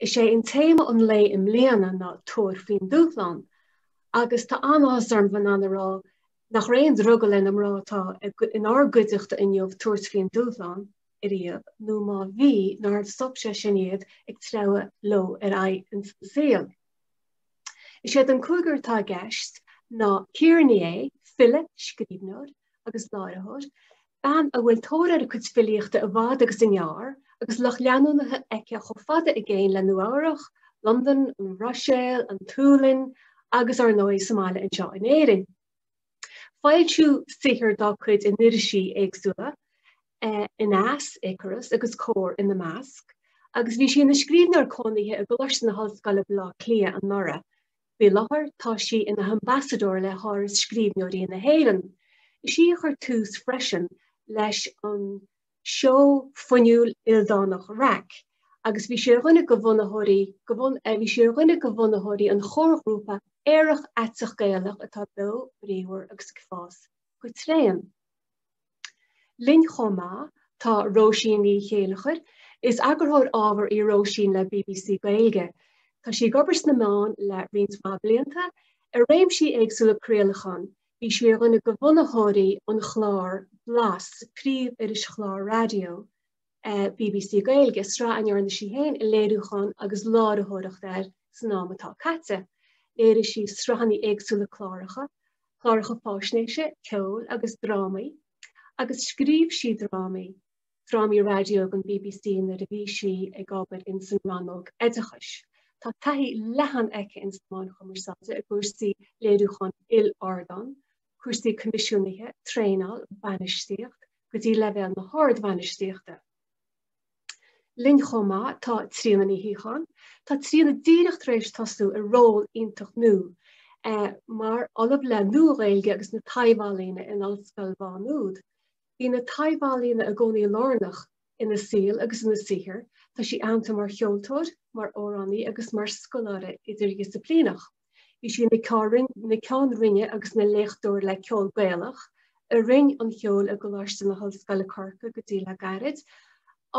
Is é téama an lae i mbliana ná Tabhair faoin Dúshlán agus tá an-áthas orm bheith in ann a rá nach raibh aon drogall ar na mná atá in ár gcuideachta inniu tabhairt faoin dúshlán ariamh nó má bhí, nár stop sé sin iad ag treabhadh leo ar aghaidh sa saol. Is iad an cúigear atá i gceist ná Ciara Ní É, file, scríbhneoir agus láithreoir, bean a bhfuil tóir ar a cuid filíochta i bhfad agus i ngearr agus lucht leanúnaithe aici chomh fada i gcéin le Nua-Eabhrac, Londain, an Bhruiséil, an tSualainn agus, ar ndóigh, sa mbaile anseo in Éirinn. Foilsíodh saothar dá cuid in irisí éagsúla, Aneas, Icarus agus Comhar ina measc, agus bhí sí ina scríbhneoir cónaithe i gColáiste na hOllscoile Baile Átha Cliath anuraidh. Faoi láthair tá sí ina hambasadóir le hÁras Scríbhneoirí na hÉireann. Is í a chuir tús freisin leis an seó fuinniúil ildánach REIC agus bhí sí ar dhuine de bhunaitheoirí bhí sí ar dhuine de bhunaitheoirí an chomharghrúpa aerach aiteach Gaelach atá beo bríomhar agus ag fás go tréan. Linn chomh maith tá Róisín Ní Chéileachair. Is eagarthóir ábhar í Róisín le BBC Gaeilge. Tá sí ag obair sna meáin le roinnt mhaith blianta, i réimsí éagsúla craolacháin, Bhí sí ar dhuine de bhunaitheoirí an chláir Blas, príomh-irischlár raidió BBC Gaeilge, sraith a ndearna sí féin léiriúchán agus láithreoireacht air san am atá caite. Léirigh sí sraitheannaí éagsúla cláracha, cláracha faisnéise, ceoil agus drámaí, agus scríobh sí drámaí. drámaí raidió don BBC nuair a bhí sí ag obair in san rannóg oideachais. Tá taithí leathan aici ins na meáin chumarsáide i gcúrsaí léiriúcháin il-ardán, cúrsaí coimisiúnaithe, traenáil, bainistíocht, go dtí leibhéal na hardbhainistíochta. Linn chomh maith tá Tríona Ní Shíocháin. Tá Tríona díreach tar éis tosú i ról iontach nua mar ollamh le Nua-Ghaeilge agus na Taibhealaíona in Ollscoil Mhá Nuad. Bhí na taibh-ealaíona i gcónaí lárnach ina saol agus ina saothar. Tá sí aitheanta mar cheoltóir, mar amhránaí agus mar scoláire idirdhisiplíneach. Bhí sí ina Ceann Roinne agus ina Léachtóir le Ceol Gaelach i Roinn an Cheoil i gColáiste na hOllscoile Corcaigh go dtí le gairid,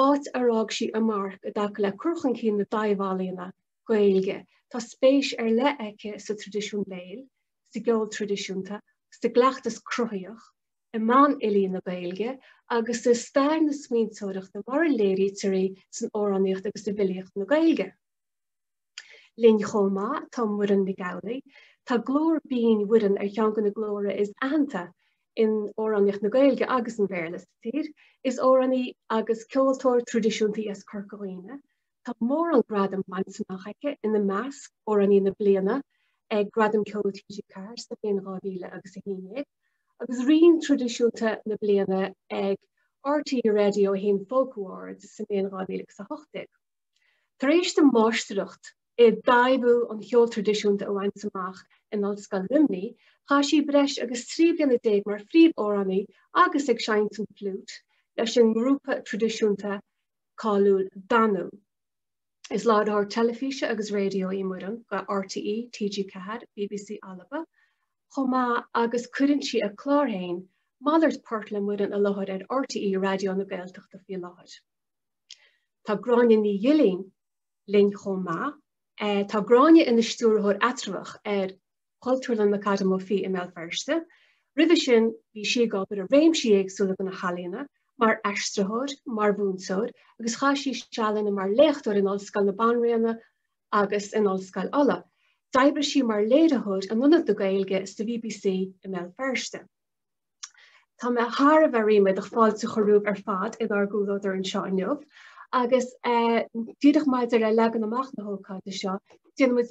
áit ar fhág sí a marc i dtaca le cur chun cinn na dtaibh-ealaíona Gaeilge. Tá spéis ar leith aici sa traidisiún béil, sa gceol traidisiúnta, sa gcleachtas cruthaitheach, i meáin fhilí na Gaeilge agus i stair na smaointeoireachta mar a léirítear í san amhránaíocht agus i bhfilíocht na Gaeilge. Linn chomh maith tá Muireann Nic Amhlaoibh. Tá glór binn Mhuireann ar cheann de na glóra is aitheanta in amhránaíocht na Gaeilge agus an Bhéarla sa tír. Is amhránaí agus ceoltóir traidisiúnta í as Corca Dhuibhne Tá mórán gradam bainte amach aici, ina measc, Amhránaí na Bliana ag Gradam Ceoil TG4 sa mbliain 2000 agus 11, agus Rian Traidisiúnta na Bliana ag RTÉ Radio 1 Folk Awards sa mbliain 2018. Tar éis di máistreacht i dtaibhiú an cheoil traidisiúnta a bhaint amach in Ollscoil Luimní, chaith sí breis agus trí bliana déag mar phríomh-amhránaí agus ag seinnt an fliúit leis an ngrúpa traidisiúnta cáiliúil Danú. Is láithreoir teilifíse agus raidió í Muireann do RTÉ, TG4, bbc Alba chomh maith agus cuireann sí a clár féin, Malairt Poirt le Muireann i láthair ar RTÉ Raidió na Gaeltachta faoi láthair. Tá Gráinne Ní Ghilín linn chomh maith. Tá Gráinne ina Stiúrthóir Eatramhach ar. Chultúrlann McAdam Ó Fiaich i mBéal Feirste. Roimhe sin bhí sí ag obair i réimsí éagsúla de na healaíona, mar aistritheoir, mar mhúinteoir, agus chaith sí sealanna mar léachtóir in Ollscoil na Banríona agus in Ollscoil Uladh. D'oibrigh sí mar léiritheoir in aonad na Gaeilge sa bbc i mBéal Feirste. Tá mé thar a bheith ríméadach fáilte a chur romhaibh ar fad inár gcomhluadar anseo inniu agus díreach maidir le leagan amach na hócáide seo, déanfaimid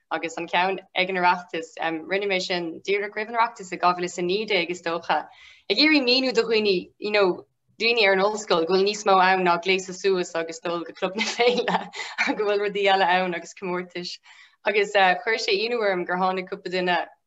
agus an ceann ag an Oireachtas. Rinne mé sin díreach roimh an Oireachtas i 2019 is dócha. Ag iarraidh míniú do dhaoine you know, daoine ar an ollscoil go bhfuil níos mó ann ná gléasadh suas agus dul go club na féile go bhfuil rudaí eile ann agus comórtais. Agus uh, chuir sé ionadh orm gur tháinig cúpla duine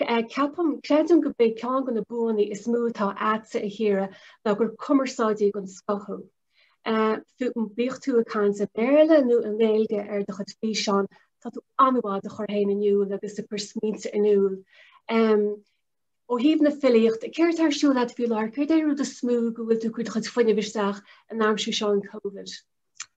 Ceapaim, creidim gurb é ceann de na buanna is mó atá agatsa a Chiara ná gur cumarsáidí den scoth thú. Bíodh tú ag caint i mBéarla nó i nGaeilge ar do chuid físeán, tá tú an-mhaith do chur féin in iúl agus ag cur smaointe in iúl. Ó thaobh na filíochta, céard atá ar siúl agat faoi láthair? Céard é an rud is mó go bhfuil tú ag cur do chuid fuinnimh isteach in aimsir seo an Covid?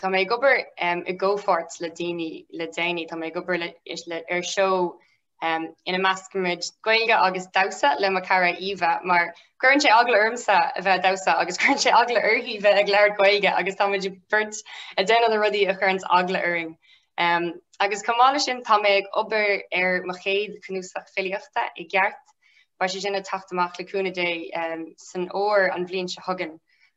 Tá mé ag obair i gcomhpháirt le daoine le déanaí, Tá mé ag obair ar seó ina meascaimid Gaeilge agus damhsa le mo cara Eva mar cuireann sé eagla ormsa a bheith ag damhsa agus cuireann sé eagla uirthi bheith ag labhairt Gaeilge agus táimid beirt ag déanamh na rudaí a chuireanns eagla orainn. Agus chomh maith leis sin tá mé ag obair ar mo chéad chnuasach filíochta i gceart, beidh sé sin ag teacht amach le cúnamh Dé san fhómhar an bhliain seo chugainn.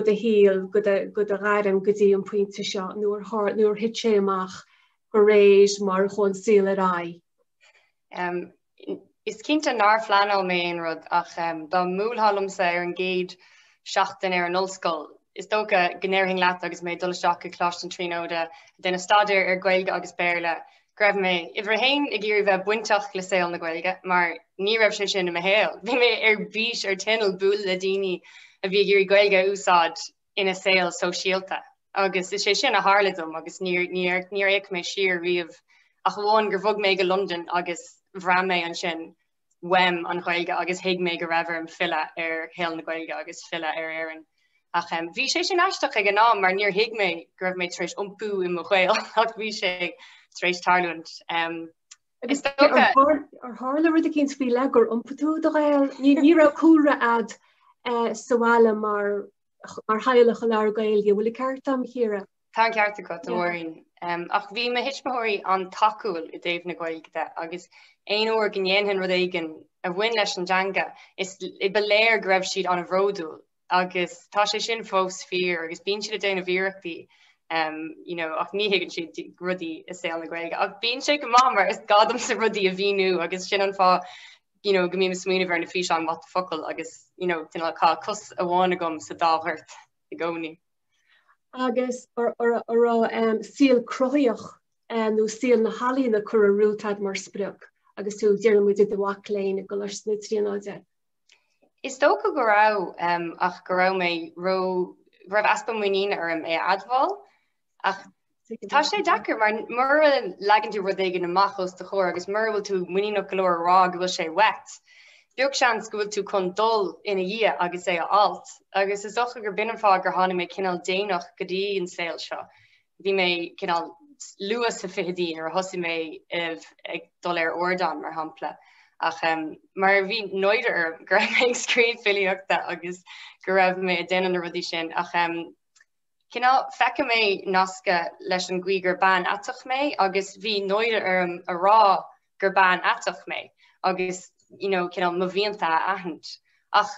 do shaol, go do ghairm go dtí an pointe seo nuair a thit sé amach go réidh mar a chuaigh an saol ar aghaidh. Is cinnte nár phleanáil mé aon rud ach dá mbuailfeá liomsa ar an gcéad seachtain ar an ollscoil, is dócha go ndéarfainn leat agus mé ag dul isteach go Coláiste na Tríonóide ag déanamh staidéar ar Ghaeilge agus Béarla go raibh mé uimhir a haon ag iarraidh bheith bainteach le saol na Gaeilge mar ní raibh sé sin i mo shaol. Bhí mé ar bís ar tinneall bualadh le daoine a bhí ag iarraidh Gaeilge a úsáid ina saol sóisialta agus is é sin a tharla dom agus níor fhéach mé siar riamh ach amháin gur bhog mé go Londain agus bhraith mé ansin uaim an Ghaeilge agus thuig mé go raibh orm filleadh ar shaol na Gaeilge agus filleadh ar Éirinn. Ach bhí sé sin aisteach ag an am mar níor thuig mé go raibh mé tar éis iompú i mo Ghael ach bhí sé tar éis tarlúint. Agus ar tharla rud eicínt faoi leith gur iompaigh tú i do Ghael, ní raibh cúlra agat sa bhaile mar mar theaghlach a labhair Gaeilge, bhfuil an ceart agam, Chiara? Tá an ceart agat, a Mhuireann. Ach bhí mo thuismitheoirí an-tacúil i dtaobh na Gaeilge de agus aon uair go ndéanfainn rud éigin a bhain leis an dteanga is ba léir go raibh siad ana-bhródúil agus tá sé sin fós fíor agus bíonn siad ag déanamh iarrachtaí ach ní thuigeann siad rudaí i saol na Gaeilge. Ach bíonn sé go maith mar is gá domsa rudaí a mhíniú agus sin an fáth go mbím ag smaoineamh ar na físeáin what the focal agus tá cos amháin agam sa dá ghort i gcónaí. agus an raibh saol cruthaitheach nó saol na healaíona curtha romhat agat mar sprioc, agus tú déarfaidh muid i do mhac léinn i gColáiste na Tríonóide. Is dócha go raibh, ach go raibh mé ró, go raibh easpa muiníne orm é a admháil, ach Tá sé deacair mar mura leagann tú rud éigin amach os do chomhair agus mura bhfuil tú muiníneach go leor a rá go bhfuil sé uait. Beag seans go bhfuil tú chun dul ina dhiaidh agus é a fháilt. Agus is dócha gur b'in an fáth gur tháinig mé cineál déanach go dtí an saol seo. Bhí mé cineál luath sna fichidí nuair a thosaigh mé ag dul ar ardán mar shampla. Ach mar bhí náire orm go raibh mé ag scríobh filíochta agus go raibh mé ag déanamh na rudaí sin ach Cineál, Feicim mé nascadh leis an gcaoi gur bean aiteach mé agus bhí náire orm a rá gur bean aiteach mé agus you know cineál mo mhianta a aithint ach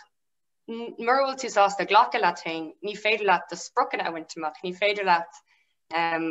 mura bhfuil tú sásta glacadh leat féin, ní féidir leat do spriocanna a bhaint amach, ní féidir leat um,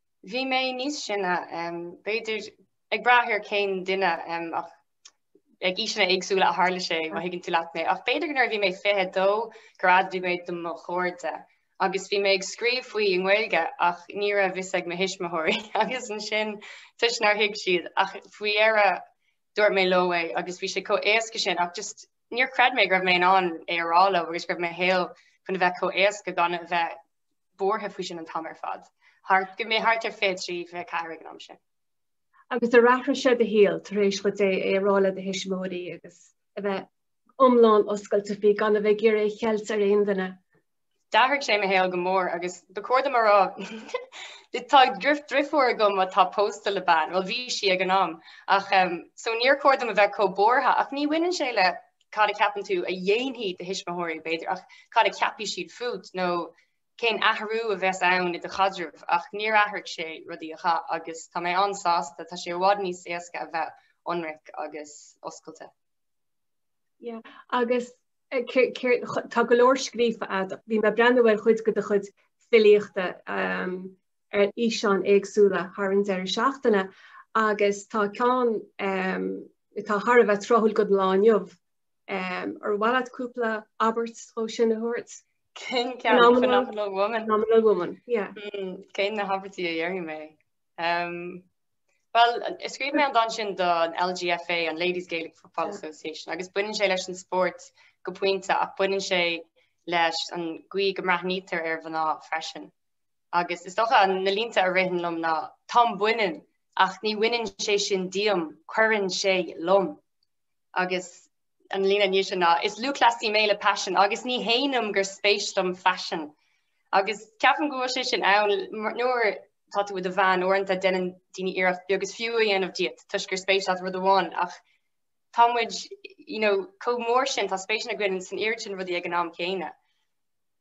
bhí mé níos sine, b'fhéidir ag brath ar cén duine ach ag aoiseanna éagsúla a tharla sé má thuigeann tú leat mé ach b'fhéidir nuair a bhí mé 22 gur admhaigh mé do mo chairde agus bhí mé ag scríobh faoi i nGaeilge ach ní raibh a fhios ag mo thuismitheoirí agus ansin toisc nár thuig siad ach faoi dheireadh dúirt mé leo é agus bhí sé chomh éasca sin ach just níor chreid mé go raibh mé in ann é a rá leo agus go raibh mo shaol chun a bheith chomh éasca gan a bheith buartha faoi sin an t-am ar fad, thart go raibh mé thart ar 23, 24 ag an am sin. Agus ar athraigh sé do shaol tar éis duit é a rá le do thuismitheoirí agus a bheith iomlán oscailte faoi gan a bheith ag iarraidh é a cheilt ar aon duine? D'athraigh sé mo shaol go mór agus ba chóir dom a rá Tá drifiúr agam atá pósta le bean, bhuel bhí sí ag an am, ach so níor chóir dom a bheith chomh buartha ach ní bhaineann sé le cad a ceapann tú a dhéanfaidh do thuismitheoirí, b'fhéidir, ach cad a cheapfaidh siad fút nó cén athrú a bheas ann i do chaidreamh? Ach níor athraigh sé rudaí a chaith agus tá mé an-sásta, tá sé i bhfad níos éasca a bheith ionraic agus oscailte. Yeah, agus tá go leor scríofa agat. Bhí mé ag breathnú ar chuid de do chuid filíochta. ar fhíseáin éagsúla thar an deireadh seachtaine agus tá ceann atá thar a bheith tráthúil don lá inniu. Ar mhaith leat cúpla abairt ó sin a thabhairt? Cén ceann? Phenomenal Woman? Phenomenal Woman, yeah. Mm, cén na habairtí a dhéarfaidh mé? Um, Well, scríobh mé an dán sin don LGFA, an Ladies Gaelic Football Association, agus baineann sé leis an spórt go pointe ach baineann sé leis an gcaoi go mbreathnaítear ar mhná freisin. agus is dócha na línte a ritheann liom ná, 'Táim baineann, ach ní bhaineann sé sin díom, cuireann sé liom', agus an líne i ndiaidh sin ná, 'Is lúthchleasaí mé le paisean, agus ní shéanaim gur spéis dom faisean'. Agus ceapaim go bhfuil sé sin ann nuair atá tú i do bhean, uaireanta déanann daoine iarracht beag is fiú a dhéanamh díot toisc gur spéis leat rud amháin, ach tá muid, you know, chomh mór sin, tá spéiseanna againn san oiread sin rudaí ag an am céanna.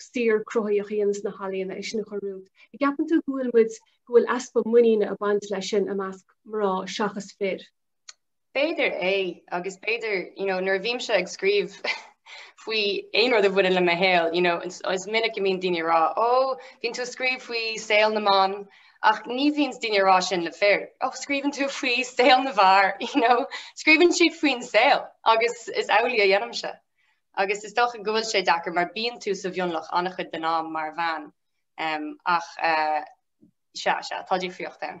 saothar cruthaitheach a dhéanamh sna healaíona é sin a chur romhat. A gceapann tú go bhfuil muid, go bhfuil easpa muiníne ag baint leis sin i measc mná seachas fir? B'fhéidir é, agus b'fhéidir, you know, nuair a bhímse ag scríobh faoi aon rud a bhaineann le mo shaol, you know, is minic go mbíonn daoine ag rá, ó, bíonn tú ag scríobh faoi saol na mban, ach ní bhíonns daoine ag rá sin le fir, ó, scríobhann tú faoi saol na bhfear, you know, scríobhann siad faoin saol, agus is amhlaidh a dhéanaimse. Agus is dócha go bhfuil sé deacair mar bíonn tú sa mhionlach an-chuid den am mar bhean. Ach sea, sea, tá difríocht ann.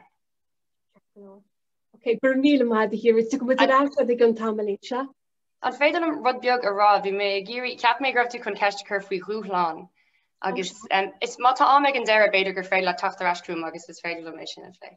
Ok, go raibh míle maith agat, a Chiara. Is tuigim muid ar fheabhas ag an t-am anois, sea? An féidir liom rud beag a rá? Bhí mé ag iarraidh, cheap mé go raibh tú chun ceist a chur faoi dhúshláin. Agus má tá am ag an deireadh, b'fhéidir gur féidir leat teacht ar ais chugam agus is féidir liom é sin a phlé.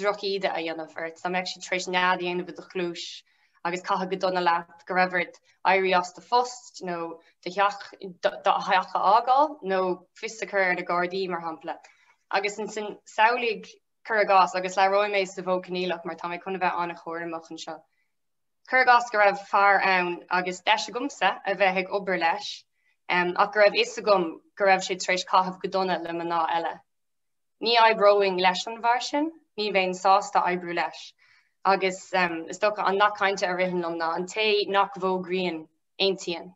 drochíde a dhéanamh ort, dá mbeadh siad tar éis nead a dhéanamh i do chluais agus caitheamh go dona leat go raibh ort éirí as do phost nó do theach do theach a fhágáil nó fios a chur ar na Gardaí, mar shampla. Agus ansin samhlaigh, cuir i gcás, agus labhróidh mé sa mhodh coinníollach mar tá mé chun a bheith an-chúramach anseo, cuir i gcás go raibh fear ann agus deis agamsa a bheith ag obair leis ach go raibh a fhios agam go raibh siad tar éis caitheamh go dona le mná eile. Ní oibreoinn leis an bhfear sin, ní bheinn sásta oibriú leis. Agus is dócha an nath cainte a ritheann liom ná an té nach bhfógraíonn, aontaíonn.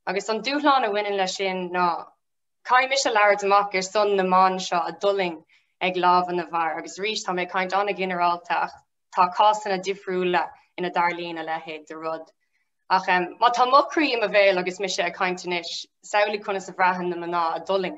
Agus an dúshlán a bhaineann leis sin ná caithfidh mise labhairt amach ar son na mban seo a d'fhulaing ag lámha na bhfear seo. Agus arís, tá mé ag caint an-ghinearálta agus tá cásanna difriúla ina dtarlaíonn a leithéid de rud. Ach má tá mo chroí i mo bhéal agus mise ag caint anois, samhlaigh conas a bhraitheann na mná a d'fhulaing.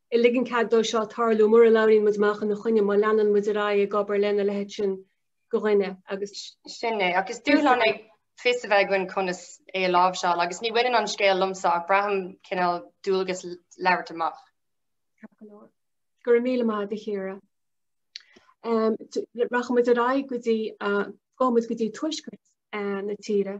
a ligeann cead dó seo tarlú mura labhraíonn muid amach ina choinne, má leanann muid ar aghaidh ag obair lena leithéid sin de dhuine agus. Sin é, agus is dúshlán é fios a bheith againn conas é a láimhseáil, agus ní bhaineann an scéal liomsa ach braithim cineál dualgas labhairt amach. Go raibh míle maith agat, a Chiara. Rachaidh muid ar aghaidh go dtí, gabhfaidh muid go dtí tuaisceart na tíre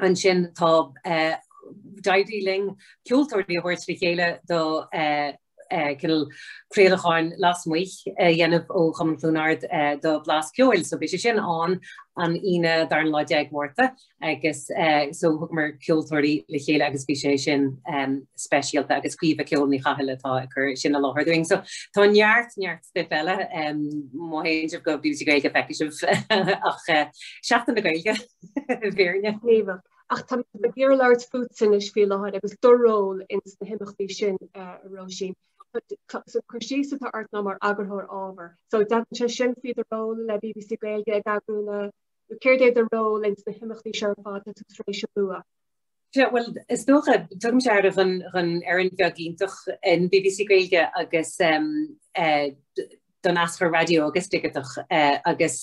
ansin tá, d'éirigh linn ceoltóirí a thabhairt le chéile do cineál craolacháin lasmuigh a dhéanamh ó Chumann Chluain Ard do Blas Ceoil. So beidh sé sin ann an Aoine an dara lá déag Márta agus so thug muid ceoltóirí le chéile agus bhí sé sin speisialta agus Caoimhe Ceol Ní Chathail atá ag cur sin i láthair dúinn. So tá neart neart stuif eile má théann sibh go BBC Gaeilge feicfidh sibh ach Seachtain na Gaeilge. Bíonn muidne gníomhach ach tá mé ag iarraidh labhairt fútsa anois faoi láthair agus do ról ins na himeachtaí sin, a Róisín. Cur síos atá ort ná mar eagarthóir ábhar. So tagann sé sin faoi do ról le BBC Gaeilge ag eagrú na, nó céard é do ról ins na himeachtaí seo ar fad atá tú tar éis a lua? Bhuel, is dócha, tugaimse aire don fhoireann bheag iontach in BBC Gaeilge agus don aschur raidió agus digiteach agus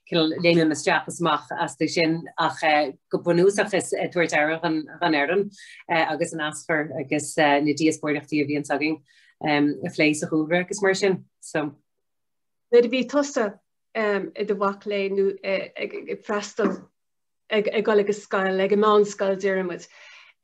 cineál léimim isteach is amach astu sin ach go bunúsach ag tabhairt aire don fhoireann agus an aschur agus na díospóireachtaí a bhíonns againn a phlé sa chúlra agus mar sin. So. Nuair a bhí tusa i do mhac léinn nó ag freastal ag gabháil ag an scoil, ag an meánscoil déarfaimid.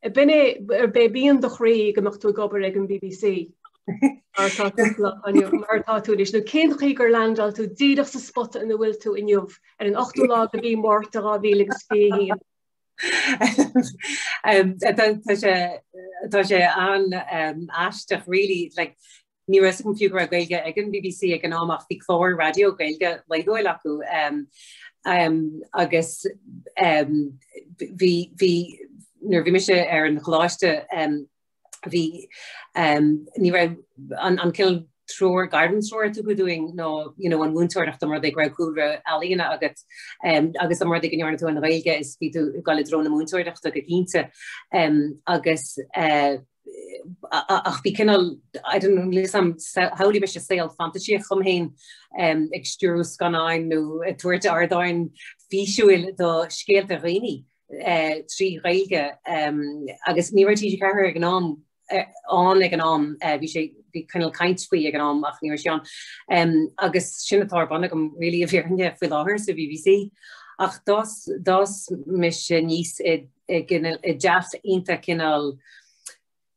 B'in é, arbh é mian do chroí go mbeadh tú ag obair ag an bbc mar, mar atá tú anois. Nó cén chaoi gur leaindeáil tú díreach sa spota ina bhfuil tú inniu, ar an ochtú lá de mhí Mhárta 2021? Tá sé an-aisteach really, like Ní raibh a fhios agam fiú go raibh Gaeilge ag an bbc ag an am ach bhí cláir raidió Gaeilge laethúil acu agus bhí, nuair a bhí mise ar an choláiste bhí ní raibh an cineál treoir, gairmthreoir a tugadh dúinn ná, you know, an mhúinteoireacht dá mba rud é go raibh cúlra ealaíne agat agus dá mba rud é go ndearna tú an Ghaeilge is bhí tú ag gabháil i dtreo na múinteoireachta go cinnte agus ach bhí cineál I don't know shamhlaigh mise saol fantaisíochta domh féin ag stiúrú scannáin nó ag tabhairt ardán físiúil do scéalta daoine trí Ghaeilge agus ní raibh TG4 ann ag an am, bhí sé, bhí cineál caint faoi ag an am ach ní raibh sé ann agus sin atá ar bun agam really i bhfírinne faoi láthair sa BBC. Ach d'fhás mise aníos i dteach iontach cineál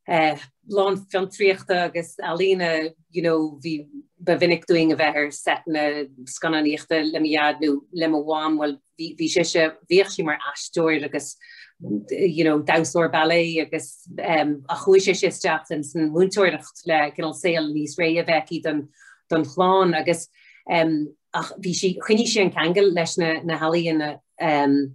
lán fiontraíochta agus ealaíne you know bhí ba mhinic dúinn a bheith ar seiteanna scannánaíochta le mo dhaid nó le mo mham bhuel bhí sise bhíodh sí mar aisteoir agus you know damhsóir ballet agus ehm ach chuaigh sise isteach sa mhúinteoireacht le cineál saol níos réidhe a bheith aici don don chlann agus ehm ach bhí sí choinnigh sí an ceangal leis na na healaíona ehm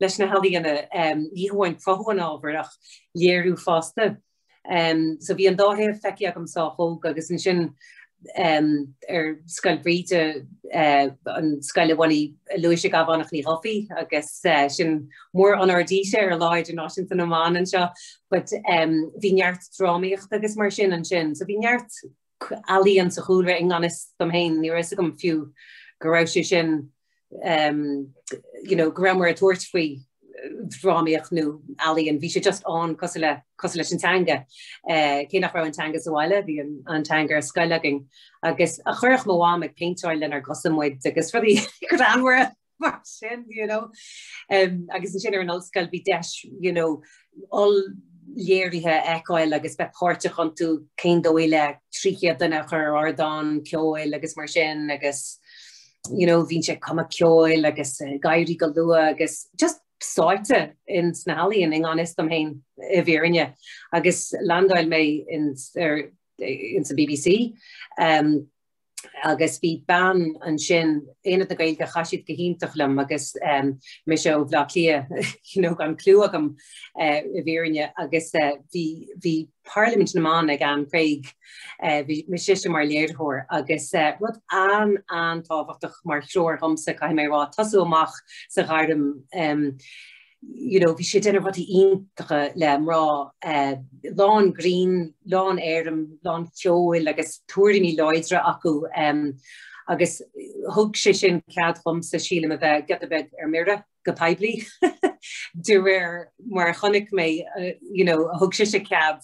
leis na healaíona, ní hamháin cruthú an ábhair ach léiriú fosta. So bhí an dá thaobh feicthe agam sách óg agus ansin ar Scoil Bhríde, an scoil a bhunaigh Lúise Ghabhánach Ní Dhufaigh agus sin mór-onóir dise ar Lá Idirnáisiúnta na mBan anseo. But bhí neart drámaíochta agus mar sin ansin so bhí neart ealaíon sa chúlra i ngan fhios dom féin, ní raibh a fhios agam fiú go raibh sé sin you know go rabhamar ag tabhairt faoi dhrámaíocht nó ealaíon, bhí sé just ann cosúil, cosúil leis an teanga. Eh cé nach raibh an teanga sa bhaile bhí an teanga ar scoil againn agus chuireadh mo mham ag péinteáil lenár gcosa muid agus rudaí greannmhara mar sin you know. um, agus ansin ar an ollscoil bhí deis you know, oll-léirithe a fheiceáil agus bheith páirteach iontu cén dóigh le trí chéad duine a chur ar ardán ceoil agus mar sin agus you know, bhínnse ag cumadh ceoil agus uh, ag éirí go luath agus just sáite ins na healaíona i ngan fhios dom féin i bhfírinne agus leaindeáil mé in, er, in sa BBC. Um, agus bhí mná ansin Aonad na Gaeilge chaith siad go hiontach liom agus um, mise ó Bhaile Átha Cliath you know, gan clue agam uh, i bhfírinne agus uh, bhí, bhí Parlaimint na mBan ag Anne Craig uh, bhí mise mar léiritheoir agus uh, rud an an-tábhachtach mar threoir domsa caithfidh mé a rá ag tosú amach sa ghairm um, you know, bhí sé ag déanamh rudaí iontacha le mná uh, lán grinn, lán éirime, lán ceoil agus tuairimí láidre acu um, agus thug sé sin cead domsa sílim a bheith get a bheith ar mire go poiblí de réir mar chonaic mé uh, you know, thug sé sé cead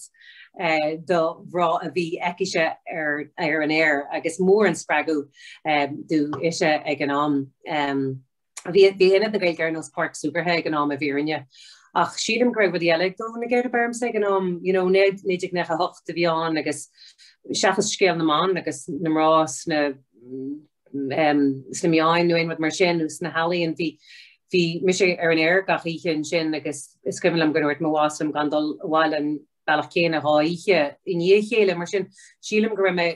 uh, do mhná a bheith acu ar ar an aer agus mór an spreagadh um, dúinn ise ag an am. Um, Bhí Aonad na Gaeilge ar nós páirc súgartha ag an am i bhfírinne. Ach sílim go raibh rudaí eile ag dó na geirbe ormsa ag an am. You know, 1998 a bhí ann agus seachas scéal na mban agus na mná sna sna meáin nó aon rud mar sin nó sna healaíona, bhí bhí mise ar an aer gach oíche ansin agus is cuimhin liom go dúirt mo bhoss liom gan dul abhaile bealach céanna dhá oíche i ndiaidh a chéile, mar sin sílim go raibh mé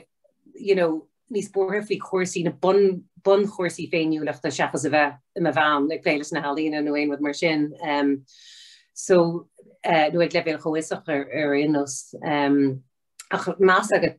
you know, níos buartha faoi chúrsaí, na bun bunchúrsaí féiniúlachta seachas a bheith i mo bhean ag plé leis na healaíona nó aon rud mar sin. Um, so, uh, nó ag leibhéal comhfhiosach ar, ar aon nós. Um, ach más agat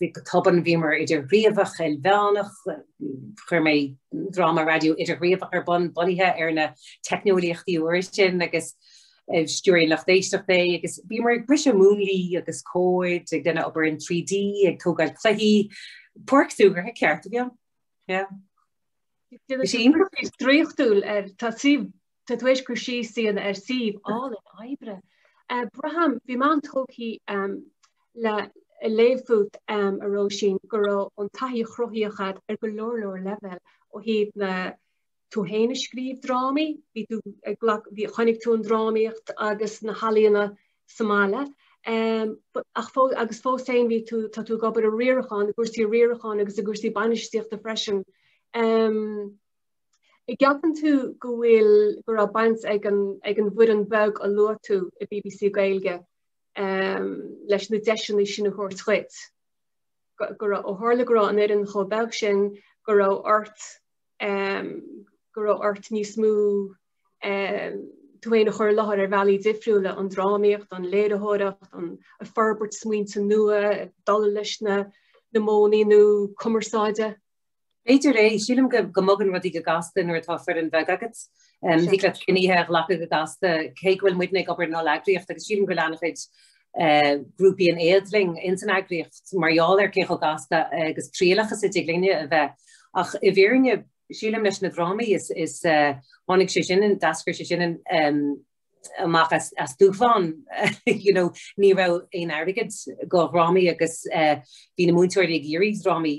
bhí go tobann bhíomar idirghníomhach ilmheánach, chuir mé dráma raidió idirghníomhach ar bun bunaithe ar na teicneolaíochtaí úra sin agus eh, stiúir an lucht éisteachta é agus bhíomar ag briseadh múnlaí agus cuid againne ag obair in 3D ag tógáil cluichí páirc súgartha cheart a bhí ann. Yeah. Is í draíochtúil ar tá sí Tá tú tar éis cur síos a dhéanamh ar suíomh álainn oibre Braithim. Bhí mé an-tógtha le léamh fút um, a Róisín, go raibh an taithí chruthaitheach agat ar go leor leor leibhéal ó thaobh na Tú féin ag scríobh drámaí, bhí tú ag glac, bhí, chonaic tú an drámaíocht agus na healaíona sa mbaile. Um, ach fó, agus fós féin bhí tú, tá tú ag obair i riarachán, i gcúrsaí riaracháin agus i gcúrsaí bainistíochta freisin. Um, An gceapann tú go bhfuil go raibh baint ag an ag an bhfoireann bheag a luaigh tú i BBC Gaeilge um leis na deiseanna sin a thabhairt dhuit? Go raibh, ó tharla go raibh an fhoireann chomh beag sin go raibh ort um go raibh ort níos mó um tú féin a chur i láthair ar bhealaí difriúla, an drámaíocht, an léiritheoireacht, an fhorbairt smaointe nua, dul leis na na modhanna nua cumarsáide? B'fhéidir, sílim go mbogann rudaí go gasta nuair atá foireann bheag agat. Thig leat cinntí a ghlacadh go gasta. Cé go bhfuil muidne ag obair in olleagraíocht agus sílim go bhfuil an-chuid eh, grúpaí in éad linn ins an eagraíocht mar gheall ar cé chomh gasta agus trialach is a dtig linne a bheith. Ach i bhfírinne, sílim leis na drámaí is, is eh, tháinig sé sin, d'eascair sé sin em, amach as, as dúshlán. you know, ní raibh aon airgead do dhrámaí agus eh, bhí na múinteoirí ag iarraidh drámaí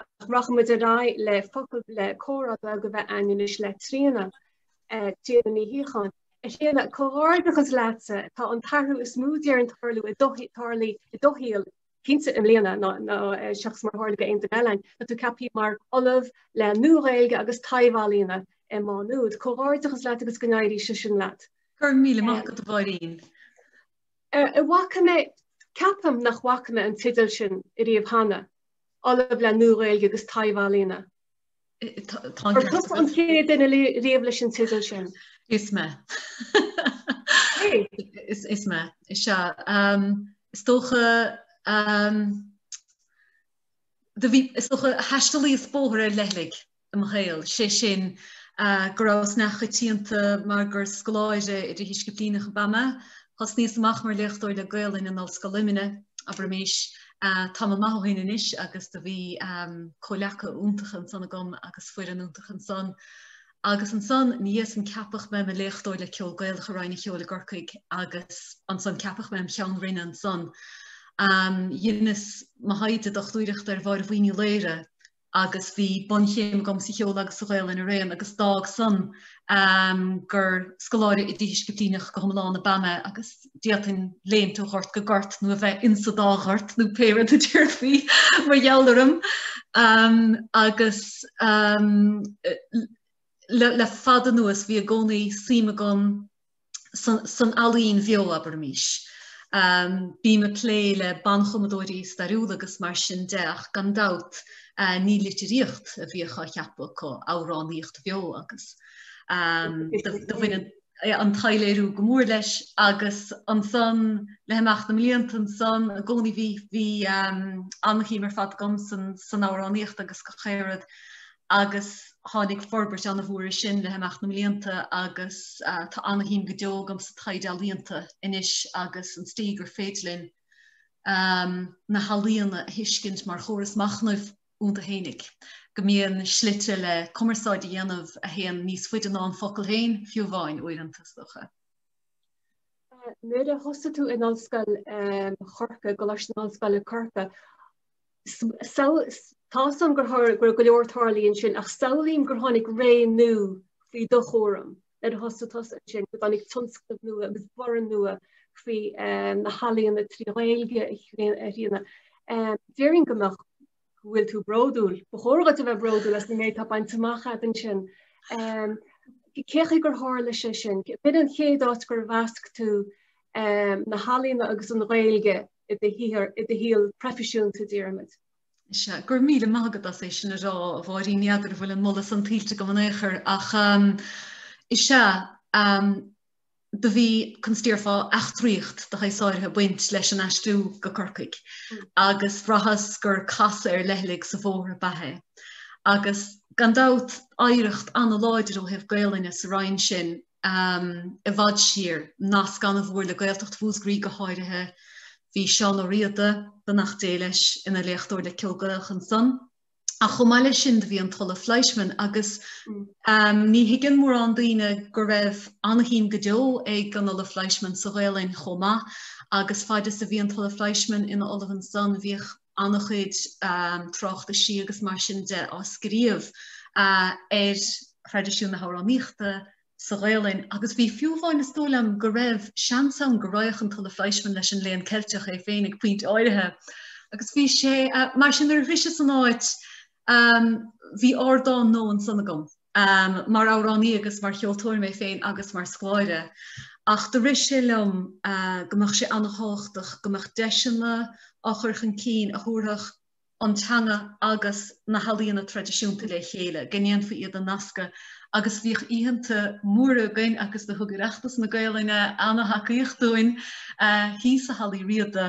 ach rachaidh muid ar aghaidh le focail le comhrá beag a bheith againn anois le Tríona, eh, Tríona Ní Shíocháin. A Thríona, comhghairdeachas leatsa, tá an t-athrú is mó déarfainn tarlú i do, tarlaithe i do shaol, cinnte i mbliana, ná, ná eh, seachas mar tharla d'aon duine eile againn, tá tú ceaptha mar ollamh le Nua-Ghaeilge agus Taibhealaíona i Má Nuad. Comhghairdeachas leat agus go n-éirí sé sin leat. Go raibh míle maith agat, a Mháirín. Eh, eh, bhfaca mé, ceapaim nach bhfaca mé an teideal sin ariamh cheana. Ollamh le Nua-Ghaeilge agus Taibhealaíona. Ar tusa an chéad duine riamh leis an teideal sin? Is mé. Is mé. Is ea. Is dócha is dócha thaistealaíos bóthar ar leithligh. i mo shaol, sé sin go rabhas neamhchoitianta mar gur scoláire idirdhisciplíneach ab ea mé. Thosnaíos amach mar léachtóir le Gaolainn in Ollscoil Luimnigh, abraimis, tamall maith ó shin anois, agus do bhí comhleacaithe iontacha ansan agam agus foireann iontach ansan. Agus ansan, ina dhiaidh san ceapadh mé im' léachtóir le Ceol Gaelach i Roinn an Cheoil i gCorcaigh agus ansan ceapadh mé im' Cheann Roinne ansan. Dheineas mo thaighde dochtúireachta ar Mháire Bhuí Ní Laoire, agus bhí bunchéim agam sa cheol agus sa Ghaolainn araon agus d'fhág san gur scoláire idirdhisciplíneach go hiomlán ab ea mé agus d'fhéadfainn léimt ó ghort go gort nó a bheith insa dá ghort nó pé rud a déarfaí mar gheall orm agus le fada anuas bhí i gcónaí suim agam san ealaín bheo, abraimís. Bím ag plé le banchumadóirí stairiúla agus mar sin de ach gan dabht ní litríocht a bhíodh á cheapadh acu, amhránaíocht bheo agus do bhain an taibhléiriú go mór leis agus ansan le himeacht na mblianta ansan i gcónaí bhí an-shuim ar fad agam san amhránaíocht agus go háirid agus tháinig forbairt an-mhór ar sin le himeacht na mblianta agus tá an-shuim go deo agam sa taighde ealaíonta anois agus an tslí gur féidir linn na healaíona a thuiscint mar chóras machnaimh iontu féinig, go mbíonn slite le cumarsáid a dhéanamh a théann níos faide ná an focal féin, fiú amháin, uaireanta, is dócha. Nuair a thosaigh tú in Ollscoil um, Chorcaigh, Coláiste na hOllscoile Corcaigh, Tá'sam gur tharla go raibh go leor ag tarlú ansin ach samhlaím gur tháinig ré nua faoi do chúram nuair a thosaigh tusa ansin go dtáinig tionscnaimh nua agus borradh nua faoi na healaíona trí Ghaeilge a Thríona. Déarfainn go mbeadh go bhfuil tú bródúil. Ba chóir dhuit a bheith bródúil as an méid atá bainte amach a'd ansin. Cé chaoi gur tharla sé sin, b'in an chéad áit gur mheasc tú um, na healaíona agus an Ghaeilge i do shaothar, i do shaol proifisiúnta, déarfaimid. Is ea, go raibh míle maith agat as é sin a rá, a Mháirín, ní fheadar an bhfuil an moladh san tuillte agam in aon chor, ach um, is ea, um, do bhí conas a déarfá eachtraíocht de shaghas áirithe ag baint leis an aistriú go Corcaigh mm. agus bhraitheas gur casadh ar leithligh sa bhóthar ab ea é. Agus gan dabht oidhreacht an-láidir ó thaobh Gaelainne sa roinn sin um i bhfad siar, nasc an-mhór le Gaeltacht Mhúsgraí go háirithe. Bhí Seán Ó Riada, beannacht Dé leis, ina léachtóir le ceol Gaelach ansan. Ach chomh maith leis sin do bhí an tOllamh Fleischmann agus mm. um, ní thuigeann mórán daoine go raibh an-shuim go deo ag an Ollamh Fleischmann sa Ghaelainn chomh maith agus fad is a bhí an tOllamh Fleischmann ina Ollamh ansan bhíodh an-chuid tráchtaisí agus mar sin de á scríobh ar thraidisiún na hamhránaíochta sa Ghaolainn agus bhí fiú amháin is dóigh liom go raibh seans ann go raghadh an tOllamh Fleischmann leis an Léann Ceilteach é féin ag pointe áirithe. Agus bhí sé mar sin nuair a bhíos-sa san áit bhí ardán nua ansan agam. Am, mar amhránaí agus mar cheoltóir mé féin agus mar scoláire, ach do rith sé liom go mbeadh sé an-tábhachtach go mbeadh deiseanna á chur chun cinn a thabharfadh an teanga agus na healaíona traidisiúnta le chéile, go ndéanfaí iad a nascadh agus bhíodh oícheanta móra againn agus do thug Oireachtas na Gaelainne an-tacaíocht dúinn thíos i Halla Uí Riada.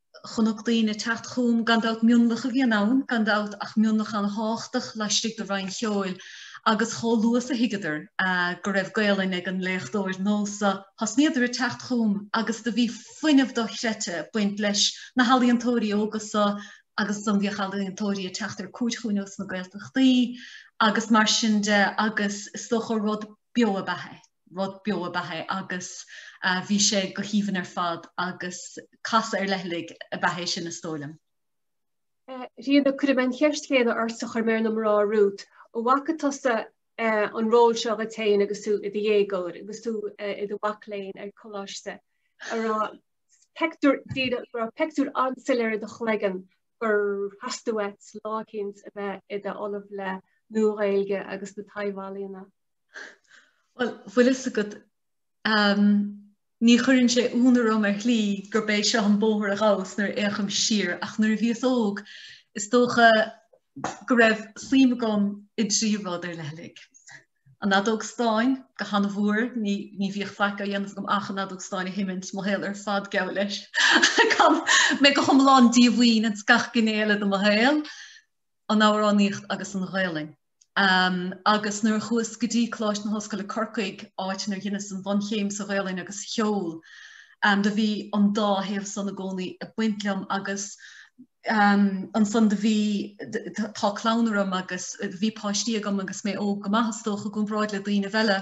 Chonac daoine ag teacht chugam, gan dabht mionlach a bhíonn ann, gan dabht, ach mionlach an-tháchtach laistigh de Roinn Cheoil, agus chomh luath is a thuigeadar go raibh Gaolainn ag an léachtóir nua so thosnaíodar ag teacht chugam agus do bhí fuinneamh dochreidte ag baint leis na healaíontóirí óga so agus do bhíodh ealaíontóirí ag teacht ar cuairt chugainn ós na Gaeltachtaí agus mar sin de agus is dócha rud beo ab ea é. rud beo ab ea é agus bhí sé go haoibhinn ar fad agus casadh ar leithligh ab ea é sin is dóigh liom. A Thríona, cuirfidh mé an cheist chéanna ortsa a chuir mé ar na mná romhat. An bhfaca tusa an ról seo dhuit féin agus tú i do dhéagóir agus tú i do mhac léinn ar coláiste an raibh pictiúr díreach, go raibh pictiúr an-soiléir i do chloigeann gur theastaigh uait lá eicínt a bheith i d'Ollamh le Nua-Ghaeilge agus na Taibh-Ealaíona. Bhuel, bhfuil fhios agat, ní chuireann sé ionadh orm ar shlí gurb é seo an bóthar a ghabhas nuair a fhéachaim siar, ach nuair a bhíos óg, is dócha go raibh suim agam i dtrí rud ar leithligh. An fheadóg stáin, go han-mhór, ní bhíodh faic á dhéanamh agam ach an fheadóg stáin a sheimint, mo shaol ar fad geall leis. Bhínn go hiomlán díomhaoin ins gach gné eile de mo shaol, an amhránaíocht agus an Ghaelainn. agus nuair a chuas go dtí Coláiste na hOllscoile Corcaigh, áit inar dheineas an bhunchéim sa Ghaolainn agus Cheol, do bhí an dá thaobh san i gcónaí ag baint liom agus ansan do bhí, tá clann orm agus bhí páistí agam agus mé óg go maith is dócha, i gcomparáid le daoinibh eile.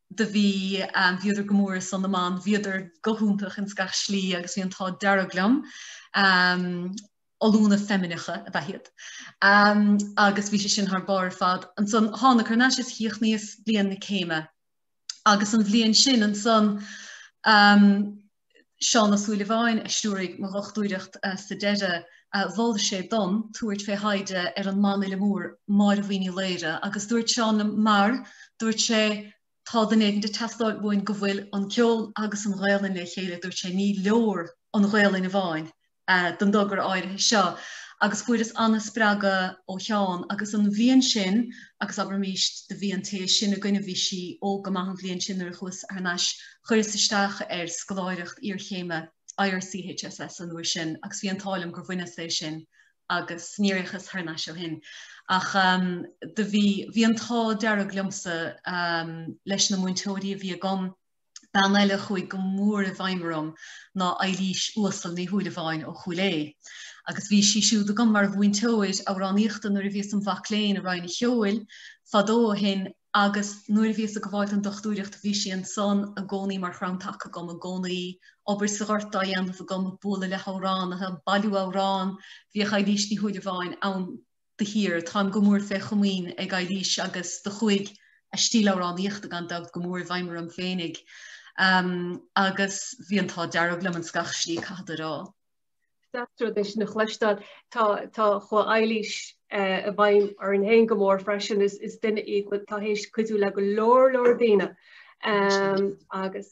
do bhí, bhíodar go mór ar son na mban, bhíodar go hiontach ins gach slí agus bhí an t-ádh dearg liom, ollúna feimineacha ab ea iad. Agus bhí sé sin thar barr ar fad. Ansan thána thar n-ais is chríochnaíos bliain na céime. Agus an bhliain sin ansan, Seán Ó Súilleabháin a stiúraigh mo dhochtúireacht sa deireadh, mhol sé dom tabhairt fé thaighde ar an mbanfhile mór Máire Bhuí Ní Laoire agus dúirt Seán liom mar, dúirt sé, tá duine éigint ag teastáil uainn go bhfuil an ceol agus an Ghaelainn le chéile, dúirt sé, ní leor an Ghaelainn amháin, don togra áirithe seo agus fuaireas an-spreagadh ó Sheán agus an bhliain sin agus abraimis do bhí an té is sine againne, bhí sí óg go maith an bhliain sin nuair a chuas thar n-ais, chuireas isteach ar scoláireacht iarchéime IRCHSS an uair sin agus bhí an t-ádh liom gur bhaineas é sin agus níor fhéachas thar n-ais ó shin. Ach do bhí, bhí an t-ádh dearg liomsa leis na múinteoirí a bhí agam, Bean eile a chuaigh go mór i bhfeidhm orm ná Eilís Uasal Ní Shúilleabháin ó Chúil Aodha agus bhí sí siúd agam mar mhúinteoir amhránaíochta nuair a bhíos im mhac léinn i Roinn an Cheoil fadó ó shin agus nuair a bhíos ag gabháil don dochtúireacht bhí sí ansan i gcónaí mar chrann taca agam i gcónaí, obair sa ghort á dhéanamh agam, ag bualadh le hamhránaithe, ag bailiú amhrán, bhíodh Eilís Ní Shúilleabháin ann. de shíor. Táim go mór fé chomaoin ag Eilís agus do chuaigh a stíl amhránaíochta gan dabht go mór i bhfeidhm orm féinig agus bhí an t-ádh dearg liom ins gach slí caithfead a rá. Is deas rud é sin a chloisteáil, tá chuaigh Eilís i bhfeidhm orm fhéin go mór freisin, is duine í, atá théis cuidiú le go leor leor daoine agus.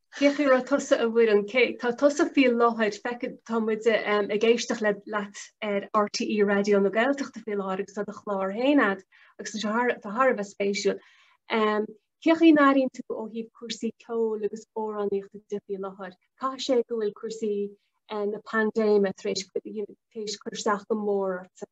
Cé faoi a raibh tusa, a Mhuireann. Cé, tá tusa faoi láthair, feicfidh, tá muid ag éisteacht le, leat ar RTÉ Raidió na Gaeltachta faoi láthair agus tá do chlár féin a'd agus tá sé thar, tá thar a bheith spéisiúil. Ehm, cén chaoi an airíonn tú ó thaobh cúrsaí ceoil agus amhránaíochta de faoi láthair. Caithfidh sé go bhfuil cúrsaí eh, na paindéime tar éis, you know, tar éis cur isteach go mór ortsa.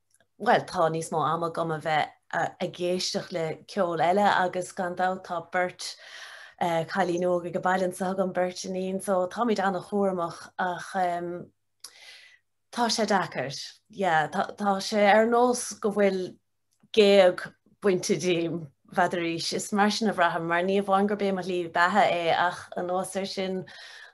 bhuel tá níos mó ama agam a bheith ag éisteacht le ceol eile agus gan dabht tá beirt cailín óga ag baile anso agam, beirt iníon so táimid an-chúramach ach tá sé deacair, yeah, tá sé ar nós go bhfuil géag bainte díom bhfeadaraís. Is mar sin a bhraithim, mar ní amháin gurb é mo shlí beatha é ach anuas air sin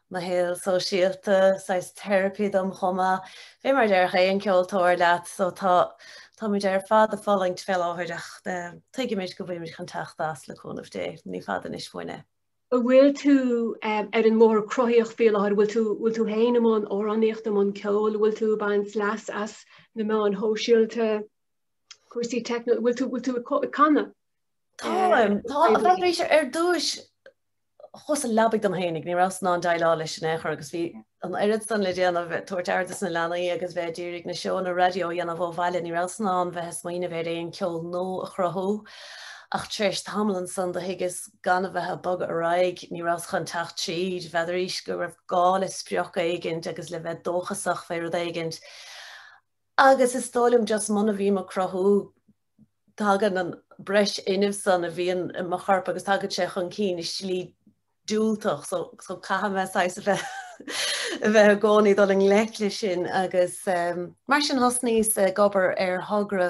mo shaol sóisialta, saghas teiripí dom chomh maith. Fé mar a déarfadh aon ceoltóir leat, so tá, táimid ar fad ag fulaingt fé láthair ach tuigimid go bhfuimid chun teacht as le cúnamh Dé. Ní fada anois uainn é. An bhfuil tú ar an mbóthar cruthaíoch fé láthair? Bhfuil tú, bhfuil tú fhéin i mbun amhránaíochta, i mbun ceoil? Bhfuil tú ag baint leas as na meáin shóisialta? Cúrsaí techno, bhfuil tú bhfuil tú ag co- ag canadh? Táim, tá arís. Ar dtúis chuas sa leabaidh dom fhéinig, ní rabhas in ann déileáil leis in aon chor agus bhí an oiread san le déanamh ag tabhairt aire dos na leanaí agus bheith ag iarraidh na seónna raidió a dhéanamh ó bhaile, ní rabhas in ann bheith ag smaoineamh ar aon ceol nua a chruthú ach tar éis tamaill ansan do thuigeas gan a bheith ag bogadh ar aghaidh ní rabhas chun teacht tríd, bhfeadaraís go raibh gá le sprioc éigint agus le bheith dóchasach fé rud éigint Agus is dóigh liom just muna bhím ag cruthú tagann an breis fhuinnimh san a bhíonn i mo chorp agus tagann sé chun cinn i slí diúltach so caithfidh mé saghas a bheith a bheith i gcónaí ag dul i ngleic leis sin agus mar sin thosnaíos ag obair ar thogra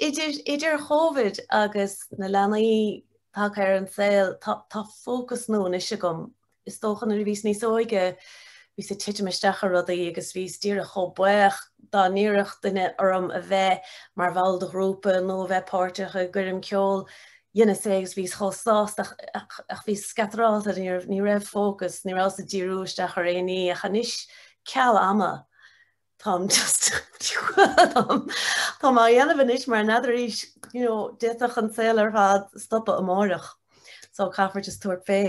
Idir Covid agus na leanaí tagtha ar an saol, tá fócas nua anois agam. Is dócha nuair a bhíos níos óige, bhíos ag titim isteach ar rudaí agus bhíos díreach chomh baoch dá n-iarrfadh duine orm a bheith mar bhall de ghrúpa nó a bheith páirteach i gcoirm ceoil. Dheineas é agus bhíos chomh sásta ach bhíos scatrálta, ní raibh fócas, ní rabhas ag díriú isteach ar aon ní ach anois ceal ama. Táim just táim á dhéanamh anois mar n'fheadaraís d'fhéadfadh an saol ar fad stopadh amáireach so caithfear just tabhairt fé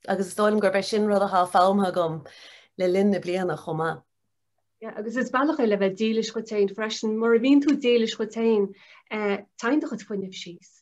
agus is dóigh liom gurb é sin rud atá foghlamtha agam le linn na bliana chomh maith. Yeah, agus is bealach é le bheith dílis dhuit féin freisin, mura bhíonn tú dílis dhuit féin, eh, téann do chuid fuinnimh síos.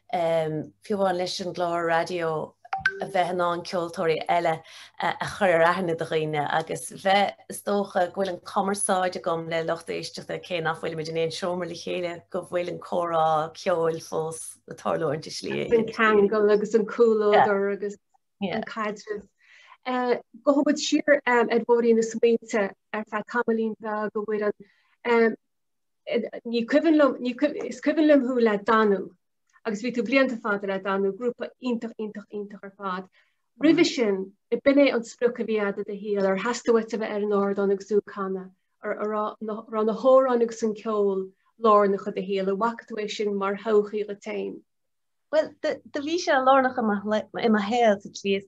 Fiú amháin leis an gclár raidió a bheith in ann ceoltóirí eile a chur ar aithne do dhaoine agus bheith, is dócha, go bhfuil an cumarsáid agam le lucht éisteachta cé nach bhfuilimid in aon seomra le chéile, go bhfuil an comhrá ceoil fós ag tarlúint i slí. An ceangal agus an comhluadar agus an caidreamh. Gabhfaidh muid siar ar bhóithrín na smaointe ar feadh tamaillín bheag a bhfuil an ní cuimhin liom, ní cuim- is cuimhin liom thú le danú, agus bhí tú blianta fada le danú, grúpa iontach, iontach, iontach ar fad. Roimhe sin, ab in é an sprioc a bhí agat i do shaol, ar theastaigh uait a bheith ar an ardán agus tú ag canadh, ar, ar rá, na, rá na hamhráin agus an ceol lárnach i do shaol, an bhfaca tú é sin mar thodhchaí dhuit fhéin? Bhuel, do, do bhí sé lárnach i mo shlé, i mo shaol sa tslí is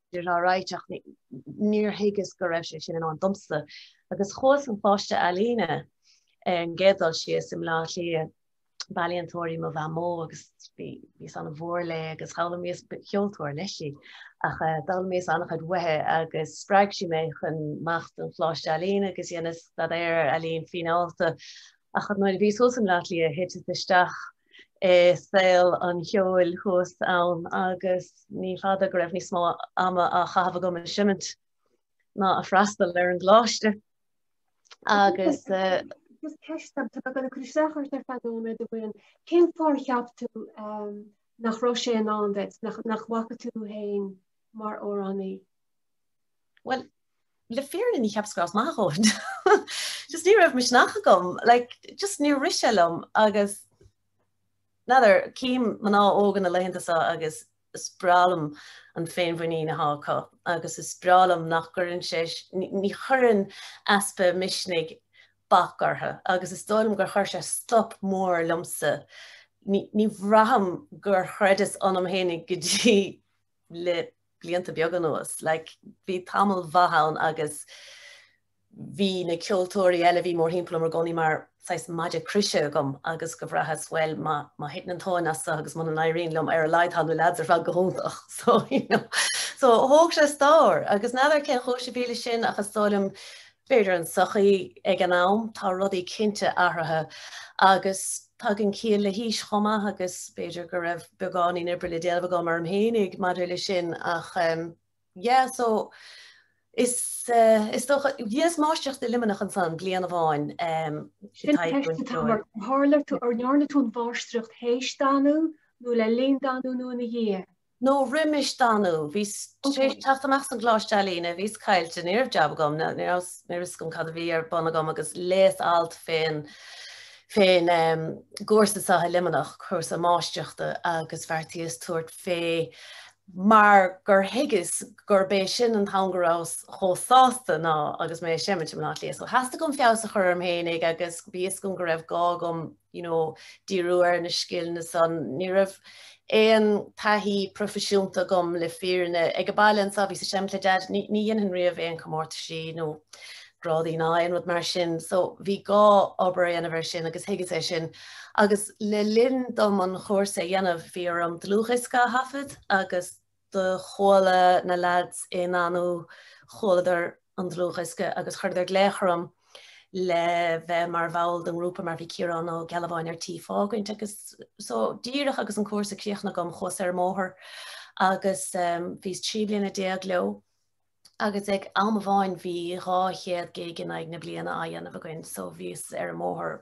Is alright ach níor thuigeas go raibh sé sin i ndán domsa agus chuas an Choláiste ealaíne ar an gcéad dul síos i mBleá Cliath, b'ealaíontóir í mo mháthair mhór agus bhí bhíos an-mhór léi agus d'fhoghlaimíos, ba cheoltóir leis í, ach d'fhoghlaimíos an-chuid uaithi agus spreag sí mé chun imeacht don Choláiste Ealaíne agus dheineas staidéar ealaín fíneálta. Ach nuair a bhíos thuas i mBleá Cliath, thiteas isteach i saol an cheoil thuas ann agus ní fada go raibh níos mó ama á chaitheamh agam ag seimint ná ag freastal ar an gcoláiste agus eh, Just ceist agam atá gan cur isteach ort ar feadh nóiméad amháin cén fáth ar cheap tú ehm, nach raibh sé i ndán duit nach bhfaca tú tú féin mar amhránaí? Well le fírinne níor cheapas go rabhas maith a dhóthain just ní raibh misneach agam like just níor rith sé liom agus n'fheadar cím mná óga na laethanta so agus is breá liom an féinmhuinín atá acu agus is breá liom nach gcuireann sé ní chuireann easpa misnigh bac orthu agus is dóigh liom gur chuir sé stop mór liomsa ní bhraithim gur chreideas ionam féinig go dtí le blianta beaga anuas. Like, bhí tamall mhaith ann agus bhí na ceoltóirí eile a bhí mórthimpeall orm i gcónaí mar saghas maide croise agam agus do bhraitheas bhuel má má thiteann an tóin as agus muna n-éiríonn liom ar a laghad tá na lads ar fad go hiontach so you know so thóg sé stór agus n'fheadar cén chúis a bhí leis sin ach is dóigh liom B'fhéidir an sochaí ag an am, tá rudaí cinnte athraithe agus tagann ciall le haois chomh maith agus b'fhéidir go raibh beagáinín oibre le déanamh agam orm féinig maidir leis sin ach yeah so is is dócha dheineas máistreacht i Luimneach ansan bliain amháin Sin an ceist atá mar a tharla tú, ar ndearna tú an mháistreacht théis danú nó le linn danú nó ina dhiaidh? nó roimis danú. Bhíos tar éis teacht amach as an gColáiste Ealaíne, bhíos caillte, ní raibh jab agam, ní raibh fhios agam cad a bhí ar bun agam agus léas alt fén fén gcúrsa so i Luimneach, cúrsa máistreachta agus bheartaíos tabhairt fé mar gur thuigeas gurb é sin an t-am go rabhas chomh sásta ná agus mé ag seimint i mBleá Cliath. So theastaigh uaim feabhas a chur orm féinig agus bhí fhios agam go raibh gá agam you know, díriú ar na scileanna san. Ní raibh aon taithí proifisiúnta agam le fírinne. Ag an baile anso bhíos ag seimint le deaid, ní, ní dhéanfainn riamh aon comórtaisí nó grádaí ná aon rud mar sin. So bhí gá obair a dhéanamh ar sin agus thuigeas é sin. Agus le linn dom an chúrsa a dhéanamh bhí orm dlúthdhiosca a thaifead agus Do chuala na leaids i nDanú, chualadar an dlúthdhiosca agus chuireadar glaoch orm le bheith mar bhall den ngrúpa mar bhí Ciarán Ó Gealbháin ar tí fágaint agus so díreach agus an cúrsa críochnaithe agam chuas ar an mbóthar agus bhíos trí bliana déag leo agus ag am amháin bhí dhá chéad gig in aghaidh na bliana á dhéanamh againn so bhíos ar an mbóthar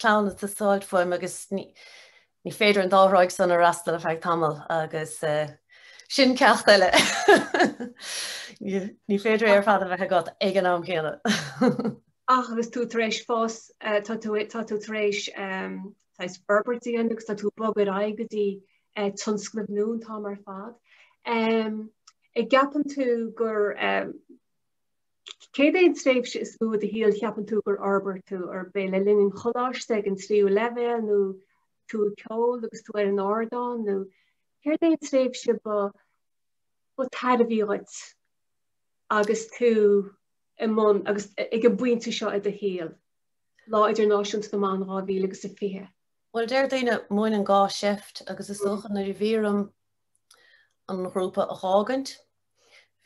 clann atá sásta fúm agus ní féidir an dá thráigh san a fhreastal ar feadh tamaill agus sin ceacht eile. Ní féidir é ar fad a bheith agat ag an am céanna. Ach agus tú tar éis fás tá tú tar éis tar éis forbairt agus tá tú bogtha ar aghaidh go dtí eh, tionscnaimh nua an t-am ar fad. An gceapann tú gur Céard é an tréimhse is mó i do shaol cheapann tú gur fhorbair tú, arbh é le linn an choláiste, ag an tríú leibhéal nó tú ag ceol agus tú ar an ardán, nó céard é an tréimhse ba tairbhí dhuit agus tú i mbun agus ag an bpointe seo i do shaol? Lá Idirnáisiúnta na mBan 2020. Bhuel, deir daoine, múineann gá seift agus is dócha nuair a bhí orm an grúpa a fhágaint,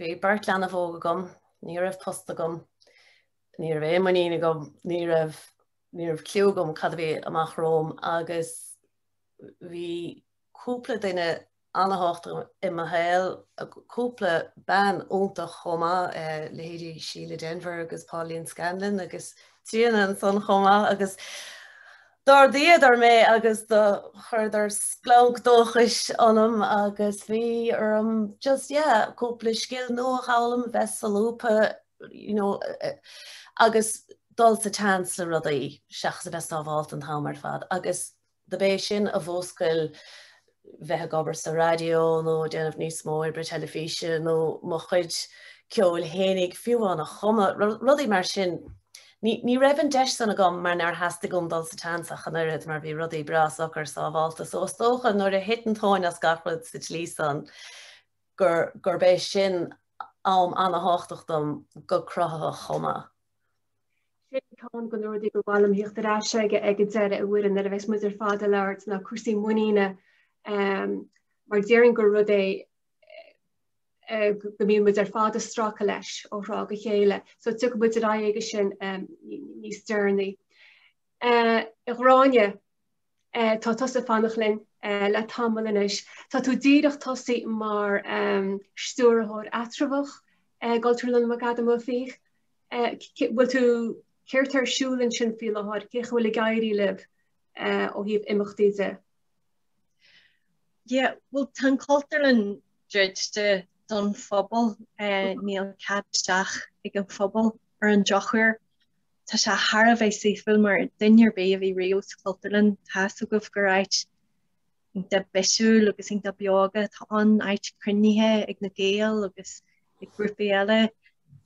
Bhí beirt leanbh óg agam, ní raibh post agam, ní raibh aon muinín agam, ní raibh, ní raibh cliú agam cad a bhí amach romham agus bhí cúpla duine ana-thábhachtach i mo shaol, cúpla bean iontach chomh maith, leithéidí Síle Denvir agus Pauline Scanlon agus Tríona ansan chomh maith agus D'ardaíodar mé agus do chuireadar splanc dóchais ionam agus bhí orm just yeah cúpla scil nua a fhoghlaim, bheith solúbtha you know agus dul sa tseans le rudaí seachas a bheith sábháilte an t-am ar fad agus dob é sin a mhúscail bheith ag obair sa raidió nó déanamh níos mó oibre teilifíse nó mo chuid ceoil féinig fiú amháin a chumadh, rudaí mar sin. Ní raibh an deis san agam mar nár theastaigh uaim dul sa tseans ach an oiread mar bhí rudaí breá socair sábháilte so is dócha nuair a thit an tóin as gach rud sa tslí san gur gurb é sin am ana-thábhachtach dom go cruthaitheach chomh maith. Sin ceann de na rudaí gur mhaith liom tíocht ar ais aige ag an deireadh a Mhuireann nuair a bheas muid ar fad ag labhairt ná cúrsaí muiníne mar déarfainn gur rud é go mbíonn muid ar fad ag stracadh leis ó thráth go chéile, so tiocfaidh muid ar aghaidh aige sin níos deireanaí. A Ghráinne, Tá tusa ag fanacht linn le tamall anois. Tá tú díreach tosaithe mar stiúrthóir eatramhach i gCultúrlann McAdam Ó Fiaich. Bhfuil tú, céard tá ar siúl ansin faoi láthair, cén chaoi a bhfuil ag éirí libh ó thaobh imeachtaí de? Yeah, bhuel tá an Cultúrlann druidte don phobal, níl cead isteach ag an phobal ar an drochuair. Tá sé thar a bheith saoithiúil mar duine ar bith a bhí riamh sa Chultúrlann, tá's agaibh gur áit iontach bisiúil agus iontach beoga atá ann, áit cruinnithe ag na Gaeil agus ag grúpaí eile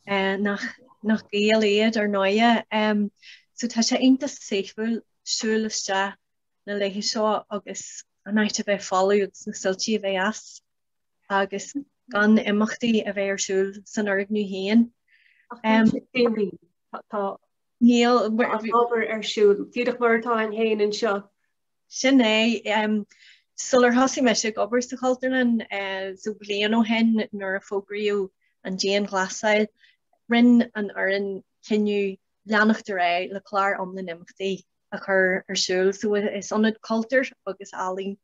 nach Gaeil iad ar ndóigh. So tá sé iontach saoithiúil siúl isteach na laetha seo agus an áit a bheith folamh agus na soilsí a bheith as. agus gan imeachtaí a bheith ar siúl san fhoirgneamh féin. Níl ábhar ar siúl díreach mar atá ann féin anseo. Sin é, sular thosaigh mise ag obair sa Chultúrlann so bliain ó shin nuair a fógraíodh an dianghlasáil, rinne an fhoireann cinneadh leanacht ar aghaidh le clár iomlán imeachtaí. a chur ar siúl. So is ionad cultúir agus ealaíon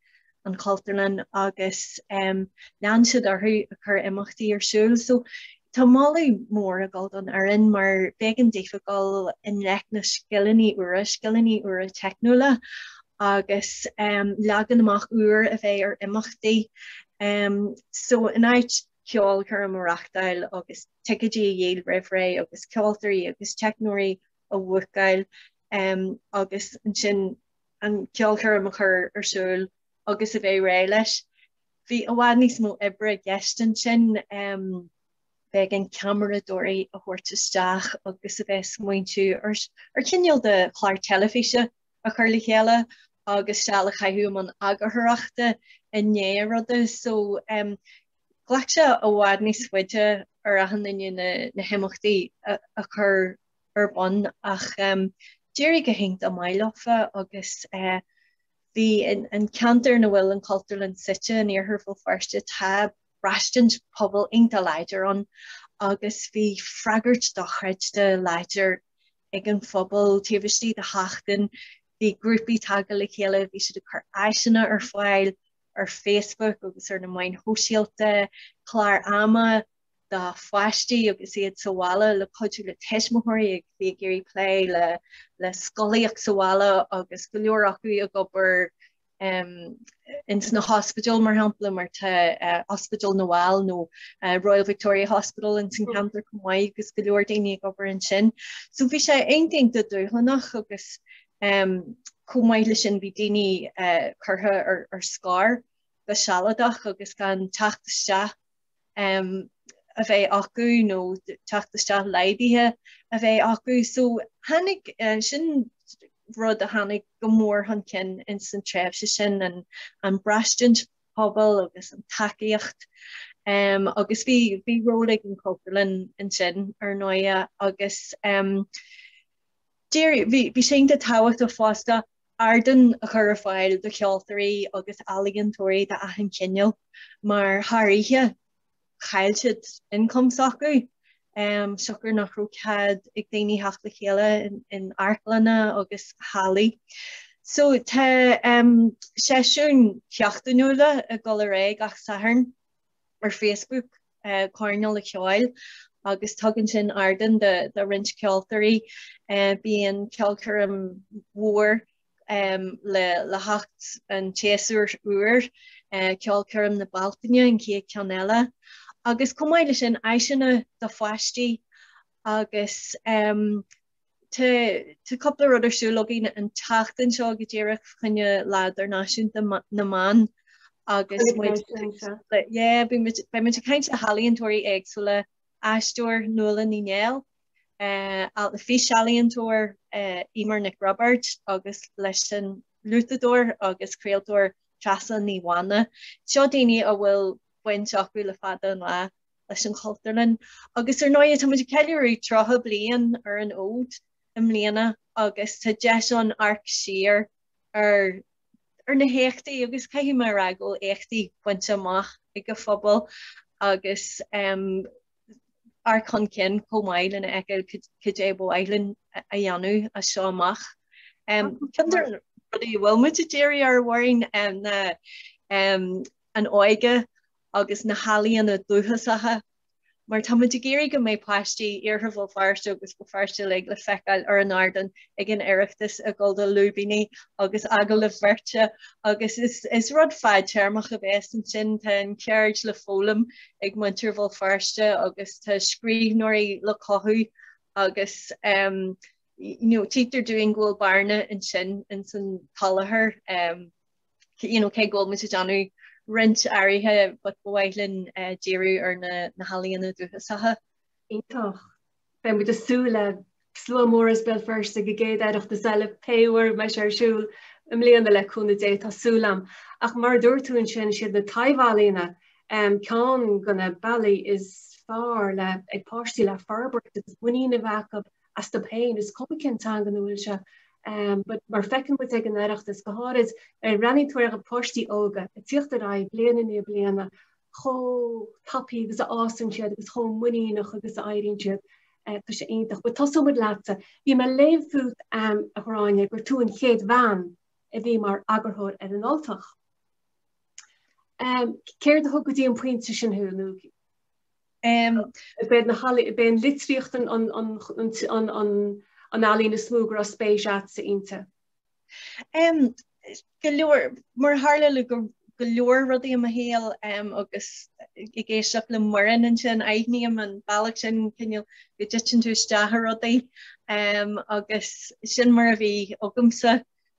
an Chultúrlann agus lean siad orthu ag cur imeachtaí ar siúl. So tá moladh mór ag dul don fhoireann mar b'éigean daofa gabháil i ngleic na scileanna úra, scileanna úra teicniúla agus leagan amach úr a bheith ar imeachtaí. So in áit ceolchoirm a reachtáil agus ticéidí a dhíol roimh ré agus ceoltóirí agus teicneoirí a bhookáil agus ansin an ceolchoirm a chur ar siúl agus a bheith réidh leis. Bhí i bhfad níos mó oibre i gceist ansin, b'éigean ceamaradóirí a thabhairt isteach agus a bheith ag smaointiú ar chineál de chlár teilifíse a chur le chéile agus seal a chaitheamh i mbun eagarthóireachta i ndiaidh an ruda. So ghlac sé i bhfad níos faide ar achan duine na himeachtaí a chur ar bun ach d'éirigh go hiontach maith leofa agus bhí an ceantar ina bhfuil an Chultúrlann suite in iarthar Bhéal Feirste, tá braistint pobail iontach láidir ann agus bhí freagairt dochreidte láidir ag an phobal taobh istigh de sheachtain. Bhí grúpaí tagtha le chéile, bhí siad ag cur áiseanna ar fáil ar Facebook agus ar na meáin shóisialta, clár ama, do pháistí agus iad sa bhaile le cuidiú le tuismitheoirí a bhí ag iarraidh plé le le scolaíocht sa bhaile agus go leor acu ag obair um, ins na hospidéil mar shampla mar tá uh, Ospidéal na bhFál nó uh, Royal Victoria Hospital ins an cheantar chomh maith agus go leor daoine ag obair ansin. So bhí sé iontach dúshlánach agus um, chomh maith leis sin bhí daoine uh, curtha ar, ar scor go sealadach agus gan teacht isteach um, a bheith acu nó teacht isteach laghdaithe a bheith acu. So tháinig uh, sin rud a tháinig go mór chun cinn ins an tréimhse sin an, an braistint pobail agus an tacaíocht. Um, agus bhí bhí ról ag an Chultúrlann ansin ar ndóigh agus um, bhí sé den tábhacht uh fosta Ardán a chur ar fáil do cheoltóirí agus ealaíontóirí d'achan chineál mar thar oíche chaill siad ioncam s'acu siocair nach raibh cead ag daoine theacht le chéile in amharclanna agus hallaí. So tá seisiúin sheachtainiúla ag dul ar aghaidh gach Satharn ar Facebook. coirnéal ceoil agus tugann sin ardán do roinnt ceoltóirí. Bíonn ceolchoirm mhór le theacht an tséasúir úir, ceolchoirm na Bealtaine an chéad ceann eile, agus chomh maith leis sin áiseanna do pháistí agus Tá cúpla rud ar siúl againn an tseachtain seo go díreach fá choinne lá idirnáisiúnta na mban agus beidh muid ag caint le healaíontóirí éagsúla, aisteoir Nuala Ní Néill, eh, físealaíontóir eh, Eimear Nic Roibeaird agus leis an fhliúiteadóir agus craoltóir Treasa Ní Mhána. Seo daoine a bhfuil baint acu le fada an lá leis an Chultúrlann agus ar ndóigh tá muid ag ceiliúradh tríocha bliain ar an fhód i mbliana agus tá deis ann amharc siar ar ar na héachtaí agus caithfidh mé a rá go bhfuil éachtaí bainte amach ag an phobal agus um, amharc chun cinn chomh maith lena fheiceáil cad é ab áil linn a dhéanamh as seo amach. Um, Ceann de na rudaí a bhfuil muid ag díriú air amháin um, ná, um, an óige agus na healaíona dúchasacha, mar tá muid ag iarraidh go mbeidh páistí Iarthar Bhéal Feirste agus Bhéal Feirste uilig le feiceáil ar an ardán ag an Oireachtas ag gabháil do Lúibíní agus Agallaimh Bheirte agus is rud fadtéarmach a bheas ansin. Tá an cheird le foghlaim ag muintir Bhéal Feirste agus tá scríbhneoirí le cothú agus títear dúinn go bhfuil bearna ansin ins an tsoláthar. you know, cé go bhfuil muid ag déanamh roinnt áirithe but ba mhaith linn eh, díriú ar na, na healaíona dúchasacha. Iontach. Beidh muid ag súil le slua mór as Béal Feirste go gcéad Oireachtas eile pé uair a mbeidh sé ar siúl i mbliana le cúnamh Dé tá súil a'm. Ach mar a dúirt tú ansin is iad na taibhealaíona um, ceann de na bealaí is fearr le haghaidh páistí le forbairt agus muinín a bheith acub astub féin is cuma cén teanga ina bhfuil sé but mar a fheiceann muid ag an Oireachtas, go háirid i rannaí áirithe páistí óga ag tíocht ar aghaidh bliain i ndiaidh bliana chomh tapa agus a fhásann siad agus chomh muiníneach agus a éiríonn siad, tá sé iontach. But tosóidh muid leatsa. Bhí mé ag léamh fút, a Ghráinne, gur tú an chéad bhean a bhí mar eagarthóir ar an Ultach. Céard a thug go dtí an pointe sin thú nó? B'in litríocht an ealaín is mó go raibh spéis a'tsa inti. Go leor, mar a tharla le go leor rudaí i mo shaol agus ag éisteacht le Muireann ansin, aithním an bealach sin cineál go dtiteann tú isteach i rudaí agus sin mar a bhí agamsa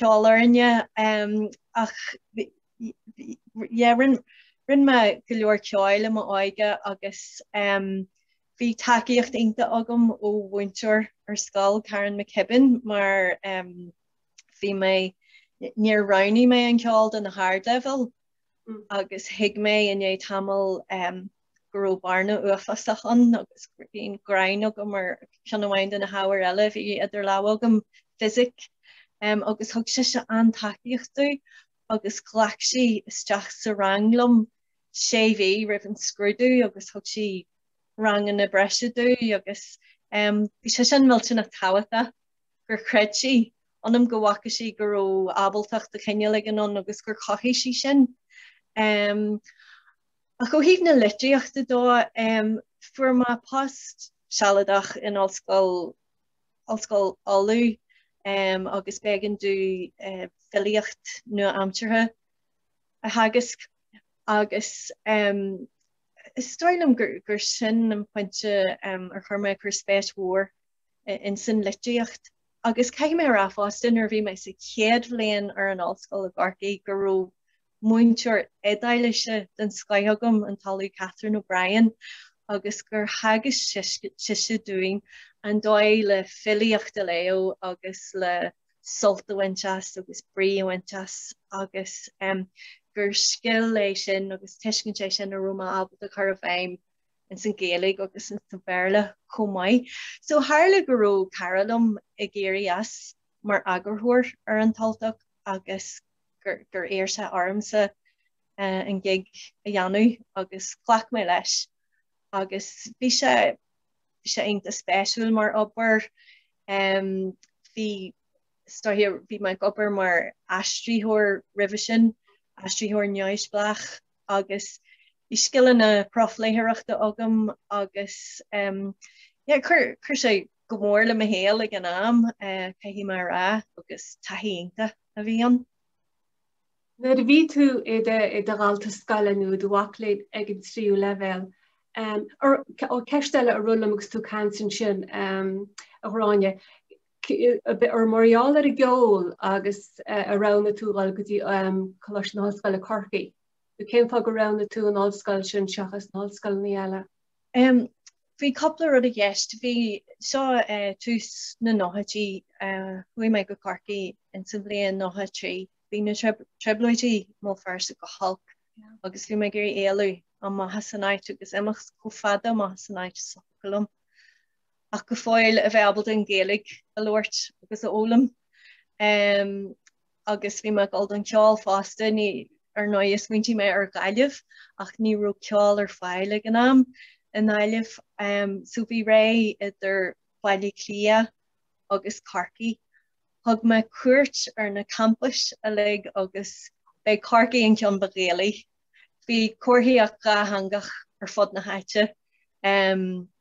ceol orainne ach rinne mé go leor ceoil i m'óige agus bhí tacaíocht iontach agam ó mhúinteoir ar scoil, Karen McKibben, mar bhí mé, níor roghnaigh mé an ceol do na hardleibhéil agus thuig mé i ndiaidh tamaill go raibh bearna uafásach ann agus bhí an ghráin agam ar cheann amháin de na hábhair eile a bhí idir lámha agam, Fisic, agus thug sise an-tacaíocht domh agus ghlac sí isteach sa rang liom sé mhí roimh an scrúdú agus thug sí ranganna breise domh agus bhí sise ansin millteanach tábhachtach gur chreid sí ionam go bhfaca sí go raibh ábaltacht de chineál éigin ann agus gur chothaigh sí sin. Ach ó thaobh na litríochta de, fuair mé post sealadach in ollscoil, Ollscoil Uladh, agus b'éigean domh filíocht nua-aimseartha a theagasc agus is dóigh liom gur sin an pointe ar chuir mé cuir spéis mhór ins an litríocht. Agus caithfidh mé a rá fosta nuair a bhí mé sa chéad bhliain ar an ollscoil i gCorcaigh go raibh múinteoir Iodáilise den scoith agam, an tOllamh Catherine O'Brien, agus gur theagasc sise dúinn an dóigh le filíocht a léamh agus le sult a bhaint as agus brí a bhaint as agus gur scil é sin agus tuiscint é sin a raibh mé ábalta a chur i bhfeidhm ins an Ghaeilge agus insa Bhéarla chomh maith. So tharla go raibh cara liom ag éirí as mar eagarthóir ar An tUltach agus gur gur iarr sé ormsa eh, an gig a dhéanamh agus ghlac mé leis agus bhí sé bhí sé iontach spéisiúil mar obair em, bhí stoithe bhí mé ag obair mar aistritheoir roimhe sin aistritheoir neamhspleách agus bhí scileanna profléitheoireachta agam agus em, yeah, chuir chuir sé go mór le mo shaol ag an am eh, caithfidh mé a rá agus taithí iontach. a bhí ann. Nuair a bhí tú i do dhalta scoile nó i do mhac léinn ag an tríú leibhéal, ceist eile a rith liom agus tú ag caint ansin, a Ghráinne, ar mar gheall ar an gceol agus a roghnaigh tú dhul go dtí Coláiste na hOllscoile Corcaigh nó cén fáth gur roghnaigh tú an ollscoil sin seachas na hollscoileanna eile? Em bhí cúpla rud i gceist. Bhí seo tús na nóchaidí. Chuaigh mé go Corcaigh in sa bhliain 93. Bhí na trioblóidí mó fós go holc agus bhí mé ag iarraidh éalú amach as an áit agus imeacht chomh fada amach as an áit is a thiocfadh liom ach go fóill a bheith ábalta an Ghaeilge a labhairt agus a fhoghlaim. Em. agus bhí mé ag gabháil don cheol fosta, níl, ar ndóigh smaointigh mé ar Ghaillimh ach ní raibh ceol ar fáil ag an am i nGaillimh ehm so bhí ré idir Baile Átha Cliath agus Corcaigh. Thug mé cuairt ar na campais uilig agus b'é Corcaigh an ceann ba Ghaelaí. Bhí comharthaíocht dhátheangach ar fud na háite ehm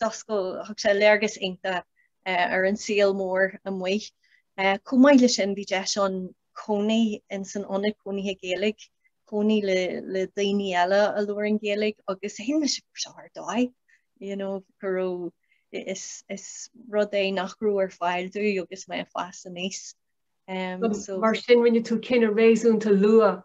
d'oscail thug sé léargas iontach eh, ar an saol mór amuigh. Eh, chomh maith le sin bhí deis an cónaí in san ionad cónaithe Gaeilge, cónaí le, le daoine eile a labhair an Gaeilge agus I mean bhí sé sin ar dóigh. You know, go raibh is, is rud é nach raibh ar fáil domh agus mé ag fás aníos. Um, so, Mar sin rinne tú cinneadh réasúnta luath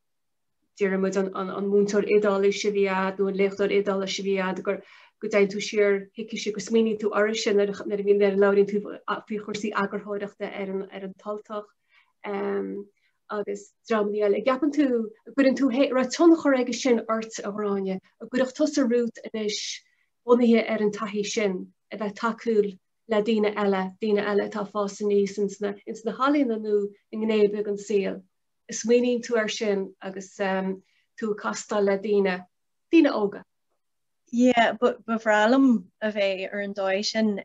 deirimid an múinteoir Iodáilis a bhí a'd nó an léachtóir Iodáilis a bhí a'd gur go dtéann tú siar chuicise agus smaoiníonn tú uirthise nuair a nuair a nuair a labhraíonn tú faoi chúrsaí eagarthóireachta ar an ar An tUltach agus dreamanna eile. An gceapann tú an gceapann tú an raibh tionchar aige sin ort a Ghráinne an gcuireann tusa romhat anois bunaithe ar an taithí sin a bheith tacúil le daoine eile daoine eile atá ag fás aníos ins na ins na healaíona nó i ngné ar bith den saol. smaoiníonn tú air sin agus tú ag castáil le daoine, daoine óga. Yeah, ba bhreá liom a bheith ar an dóigh sin.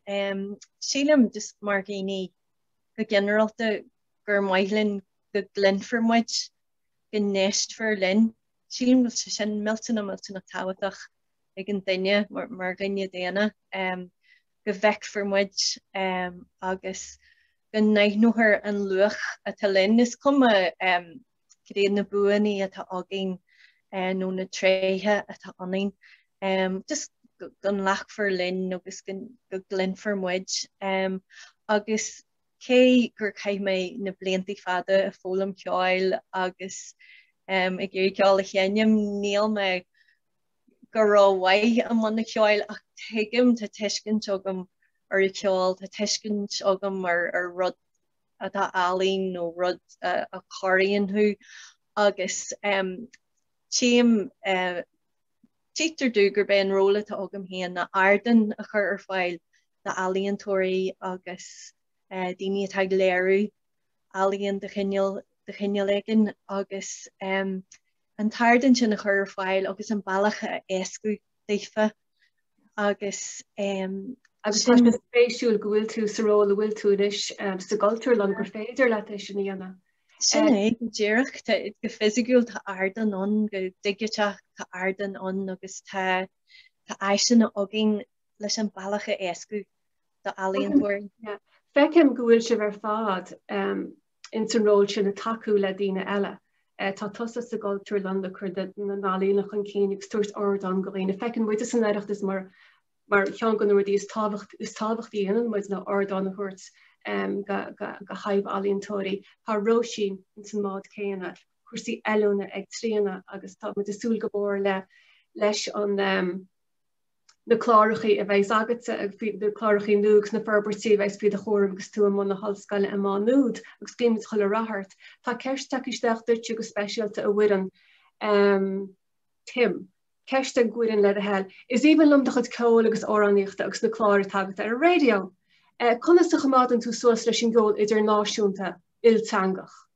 Sílim just mar dhaoine go ginearálta gur maith linn go gcluinfear muid, go n-éistfear linn. Sílim go bhfuil sé sin millteanach, millteanach tábhachtach ag an duine mar dhuine daonna. go bhfeicfear muid agus go n-aithneofar an luach atá linn. Is cuma caidé na buanna atá againn nó na tréithe atá ionainn, just go nglacfar linn agus go gcluinfear muid. Agus cé gur chaith mé na blianta fada ag foghlaim ceoil agus ag iarraidh ceol a sheinm, níl mé go rómhaith i mbun an cheoil ach tuigim, tá tuiscint agam ar an cheol, tá tuiscint agam ar rud atá ealaín nó rud a chorraíonn thú agus tchím, tchítear domh gurb é an ról atá agam féin ná ardán a chur ar fáil d'ealaíontóirí agus daoine atá ag léiriú ealaíon de chineál éigin agus an t-ardán sin a chur ar fáil agus an bealach a éascú daofa agus um, agus sin... Agus spéisiúil go bhfuil tú sa ról a bhfuil tú anois um, sa gcultúrlann gur féidir leat é sin a dhéanamh. Sin é go díreach go fisiciúil tá ardán ann go digiteach tá ardán ann agus tá tá áiseanna againn leis an bealach a éascú do ealaíontóirí. Feicim go bhfuil sibh ar fad um, ins an ról sin ag tacú le daoine eile. Tá tusa sa gCultúrlann ag cur na n-ealaíona chun cinn ag tabhairt ardán go dhaoine. Feiceann muid san Oireachtas mar mar cheann de na rudaí is tábhacht is tábhachtaí a dhéanann muid ná ardán a thabhairt go go go healaíontóirí. Tá Róisín ins an mbád céanna, cúrsaí oiliúna ag Tríona agus tá muid ag súil go mór le leis an na clárachaí a bheas agatsa agus na clárachaí nua agus na forbairtí a bheas faoi do chúram agus tú i mbun na hollscoile i Má Nuad agus guímid chuile rath ort. Tá ceist tagtha isteach duitse go speisialta a Mhuireann. Um, Tim. Ceist do Mhuireann le do thoil. Is aoibhinn liom do chuid ceoil agus amhránaíochta agus na cláir atá agat ar an raidió. Eh, conas a choimeádann tú suas leis an gceol idirnáisiúnta, ilteangach?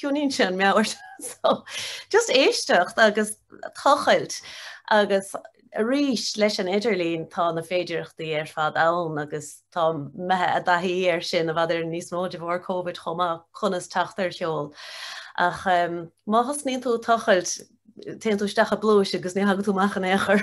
Coinníonn sé an meabhair so just éisteacht agus tochailt agus arís leis an idirlíon tá na féidireachtaí ar fad ann agus táimid imithe i dtaithí ar sin i bhfad níos mó de bharr Covid chomh maith conas teacht ar cheol ach um, má thosnaíonn tú ag tochailt téann tú isteach i bpluais agus ní thagann tú amach in aon chor.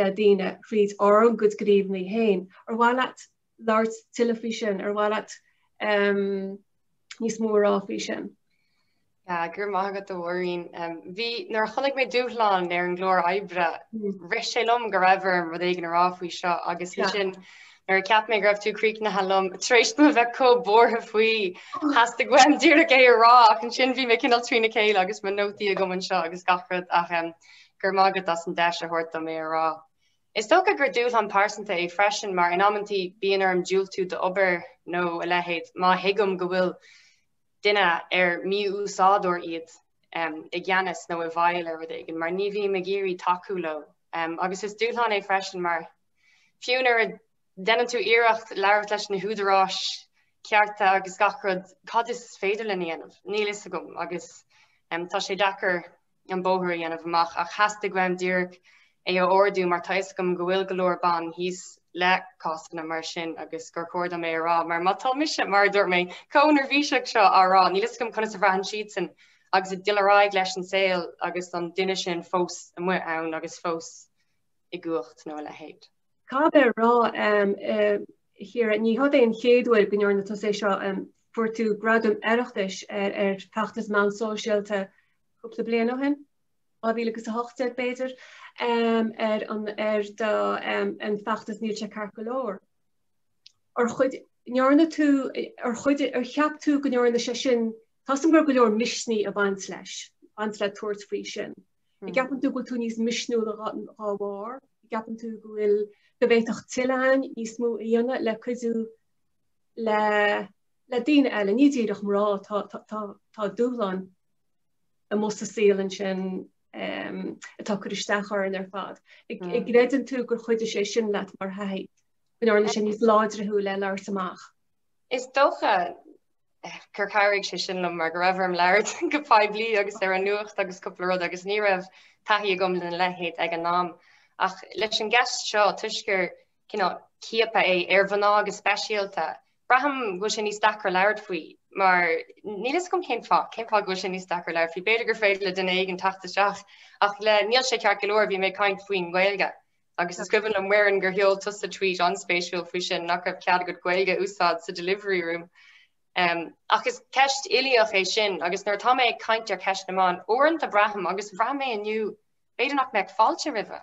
le daoine tríd ár gcuid gníomhanna féin. Ar mhaith leat labhairt tuilleadh faoi sin? Ar mhaith leat níos mó a rá faoi sin? go raibh maith agat a Mháirín. Bhuel nuair a chonaic mé dúshlán ar an gclár oibre, rith sé liom go raibh orm rud éigin a rá faoi seo agus ansin nuair a cheap mé go raibh tú críochnaithe liom tar éis dom a bheith chomh buartha faoi theastaigh uaim díreach é a rá ach ansin bhí mé cineál trína chéile agus mo nótaí agam anseo agus gach rud ach Go raibh maith agat as an deis a thabhairt dom é a rá. Is dócha gur dúshlán pearsanta é freisin mar in amantaí bíonn orm diúltú d'obair nó a leithéid má thuigim go bhfuil duine, ar mí-úsáideoir iad, i gceannas nó i bhfeighil ar rud éigin mar ní bhím ag iarraidh tacú leo. Agus is dúshlán é freisin mar fiú nuair a déanann tú iarracht labhairt leis na húdaráis cearta agus gach rud, cad is féidir linn a dhéanamh? Níl a fhios agam agus tá sé deacair. an bóthar a dhéanamh amach ach theastaigh uaim díreach é a ardú mar tá 'fhios agam go bhfuil go leor ban thíos le cásanna mar sin agus gur chóir dom é a rá mar má tá mise, mar a dúirt mé, chomh neirbhíseach seo á rá níl 'fhios agam conas a bhraitheann siadsan agus iad ag dul ar aghaidh leis an saol agus an duine sin fós amuigh ann agus fós i gcumhacht nó a leithéid. Caithfidh mé a rá, Chiara, ní hiod é an chéad uair go ndearna tusa é seo, fuair tú Gradam Oireachtais ar fheachtas meán sóisialta cúpla bliain ó shin, 2018 b'fhéidir, ar an bhfeachtas Níl Sé Ceart Go Leor. Ar chuid, ndearna tú, ar chuid, ar cheap tú go ndearna sé sin, tá a fhios agam go raibh go leor misnigh ag baint leis, baint le tabhairt faoi sin. An gceapann tú go bhfuil tú níos misniúla dhá bharr? An gceapann tú go bhfuil, go bhféadfadh tuilleadh againn níos mó a dhéanamh le cuidiú le, le daoine eile, ní díreach mná, tá, tá, tá dúshlán amuigh sa saol ansin atá ag cur isteach orainn ar fad. An gcreideann tú gur chuidigh sé sin leat mar thaithí, go ndearna sé níos láidre thú le labhairt amach. Is dócha eh, gur chabhraigh sé sin liom mar go raibh orm labhairt go poiblí agus ar an nuacht agus cúpla rud agus ní raibh taithí agam lena leithéid ag an am. Ach leis an gceist seo toisc gur cineál ciaptha é ar mhná go speisialta, braithim go bhfuil sé níos deacra labhairt faoi mar níl a fhios agam cén fáth, cén fáth go bhfuil sé níos deacra labhairt faoi. B'fhéidir gur féidir le duine éigin teacht isteach ach le níl sé ceart go leor, bhí mé ag caint faoin nGaeilge agus is cuimhin liom, a Mhuireann, gur sheol tusa tweet an-spéisiúil faoi sin nach raibh cead agat Gaeilge a úsáid sa delivery room. Ach is ceist uilíoch é sin agus nuair atá mé ag caint ar cheist na mban, uaireanta braithim, agus bhraith mé inniu, b'fhéidir nach mbeadh fáilte roimhe.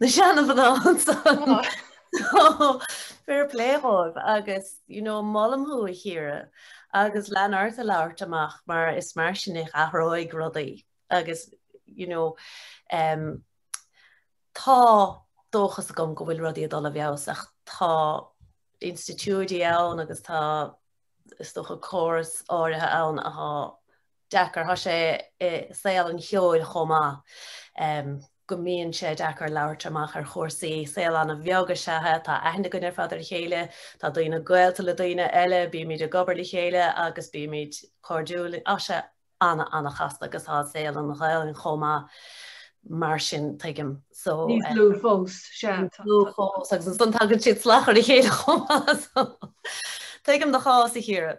na seanmhná ansan. Fair play dhóibh agus you know, molaim thú a Chiara agus lean ort a labhairt amach mar is mar sin a athróidh rudaí agus you know, um, tá dóchas agam go bhfuil rudaí ag dul i bhfeabhas ach tá institiúidí ann agus tá is dócha córas áirithe ann atá deacair. Tá sé i saol an cheoil chomh maith go mbíonn sé deacair labhairt amach ar chúrsaí. Saol an-bheag is ea é, tá aithne againn ar fad ar a chéile, tá daoine gaolta le daoine eile, bímid ag obair le chéile agus bímid cairdiúil. Tá sé ana, ana chasta agus tá saol na Gaelainne chomh maith mar sin, tuigim. So. Níos lú fós, sea. Níos lú fós agus ansan tagann siad slach ar a chéile chomh maith. So tuigim do chás, a Chiara.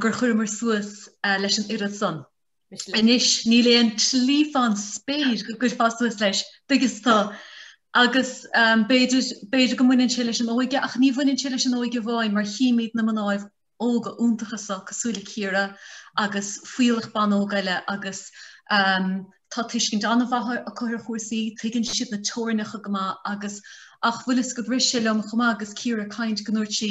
gur chuireamar suas leis an oiread san. Anois níl aon tslí fán spéir go gcuirfeá suas leis, dtuigeann tú. Agus b'fhéidir, b'fhéidir go mbaineann sé leis an óige, ach ní bhaineann sé leis an óige amháin mar chímid na mnáibh óga iontacha so cosúil le Ciara agus fuíollach ban óg eile agus tá tuiscint an-mhaith acu ar chúrsaí, tuigeann siad na teorainneacha go maith agus ach bhfuil fhios agat bhris sé lem chomh maith agus Ciara ag caint go ndúirt sí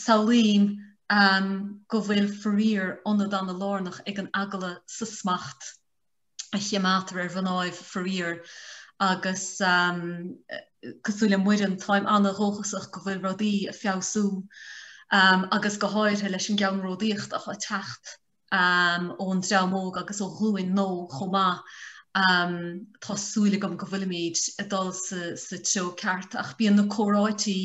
Samhlaím go bhfuil faraor ionad an-lárnach ag an eagala sa smacht a choimeádtar ar mhnáibh faraor agus cosúil le Muireann táim an-dhóchasach go bhfuil rudaí ag feabhsú agus go háirithe leis an gceannródaíocht atá ag teacht ón dream óg agus ó ghlúin nua chomh maith. Tá súil agam go bhfuilimid ag dul sa treo ceart ach bíonn na comhráití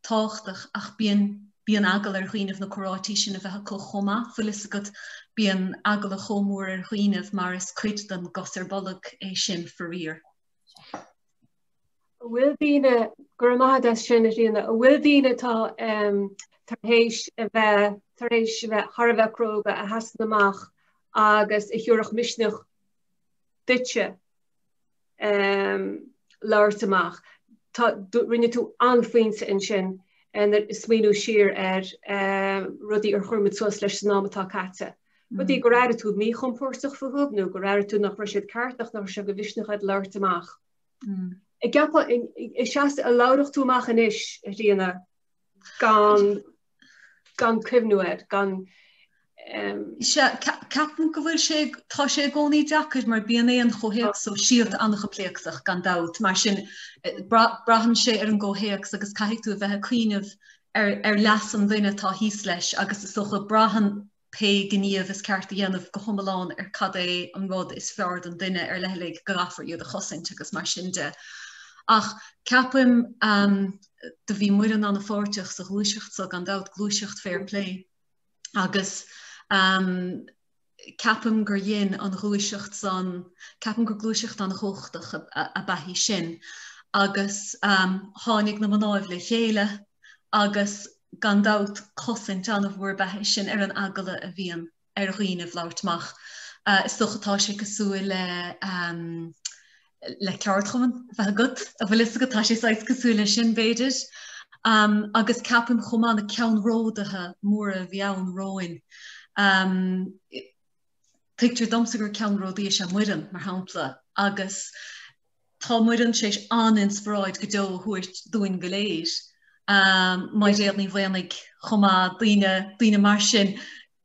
tábhachtach ach bíonn bíonn eagal ar dhaoinibh na comhráití sin a bheith acu chomh maith. Fuil fhios agat bíonn eagla chomh mór ar dhaoinibh mar is cuid den gcos ar bolg é sin faraor. a bhfuil daoine go raibh maith agat as sin a Ríona a bhfuil daoine atá tar héis a bheith tar éis a bheith thar a bheith cróga a sheasann amach agus a thiúrfadh misneach duitse labhairt amach. Tá rinne tú an-phointe ansin ag smaoiniú siar ar rudaí ar chuir muid suas leis san am atá caite. Rudaí gur airigh tú míchompórdach fúthu nó gur airigh tú nach raibh siad ceart ach nach raibh sé de mhisneach agat labhairt amach. An gceapfá, an seasfá, an labhródh tú amach anois, a Ríona, gan, gan cuimhniú air, gan, Ceapaim go bhfuil sé, tá sé i gcónaí deacair mar bíonn an comhthéacs sóisialta an-choimpléascach, gan dabht, mar sin, braitheann sé ar an gcomhthéacs agus caithfidh tú a bheith ag cuimhneamh ar leas an duine atá thíos leis agus is dócha braitheann pé gníomh is ceart a dhéanamh go hiomlán ar cad é an rud is fearr don duine ar leithligh go gcaithfear iad a chosaint agus mar sin de. Ach ceapaim do bhí Muireann ana-pháirteach sa ghluaiseacht so gan dabht, gluaiseacht fair play agus ceapaim gur dhein an ghluaiseacht san, ceapaim gur gluaiseacht an-chumhachtach ab ea í sin agus tháinig na mnáibh le chéile agus gan dabht cosaint an-mhór ab ea í sin ar an eagla a bhíonn ar dhaoinibh labhairt amach. Is dócha tá sé cosúil le. le ceardchumann a bheith agat an bhfuil fhios agat tá sé saghas cosúil le sin b'fhéidir um, agus ceapaim chomh maith na ceannródaithe móra a bhí ann romhainn. Um, Tuigtear domsa gur ceannródaí is ea Muireann mar shampla agus tá Muireann tar éis an-inspioráid go deo a thabhairt dúinn go léir. Um, Mairéad Ní Mhaonaigh chomh maith, daoine, daoine mar sin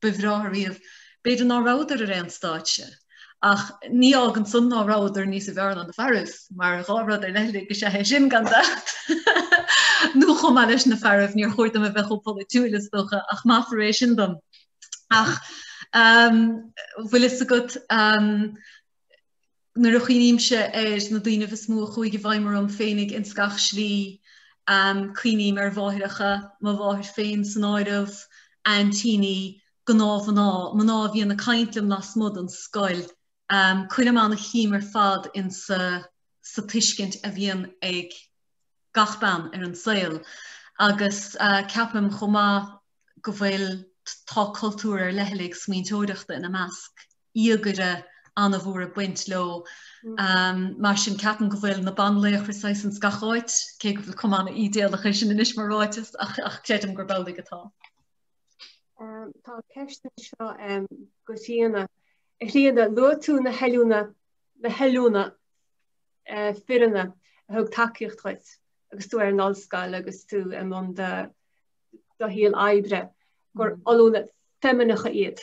ba bhreátha riamh. B'fhéidir ná rabhadar ar aon stáitse, ach ní fhágann san ná rabhadar níosa bhfearr ná na fearaibh, mar dhá rud ar leithligh is ea é sin, gan dabht. Nó chomh maith leis na fearaibh, níor chóir dom a bheith chomh polaitiúil, is dócha, ach maithfear é sin dom. Ach an bhfuil fhios agat, nuair a chuimhnímse ar na daoinibh is mó a chuaidh i bhfeidhm orm féinig ins gach slí, cuimhním ar mháithreacha, mo mháthair féin san áireamh, aintíní, gnáthmhná, mná a bhíonn ag caint liom lasmuigh den scoil, cuirim an-shuim ar fad insa sa tuiscint a bhíonn ag gach bean ar an saol agus ceapaim chomh maith go bhfuil tá cultúr ar leithligh smaointeoireachta ina measc. íogaire an-mhór ag baint leo. Mar sin, ceapaim go bhfuil na banlaochra saghas ins gach áit, cé go bhfuil cuma an-idéalach air sin anois mar ráiteas, ach creidim gurb amhlaidh atá. Tá ceist anseo do Thríona. A Thríona, luaigh tú na hollúna, na hollúna fireanna a thug tacaíocht dhuit agus tú ar an ollscoil agus tú i mbun do shaol oibre, gur ollúna feimineacha iad.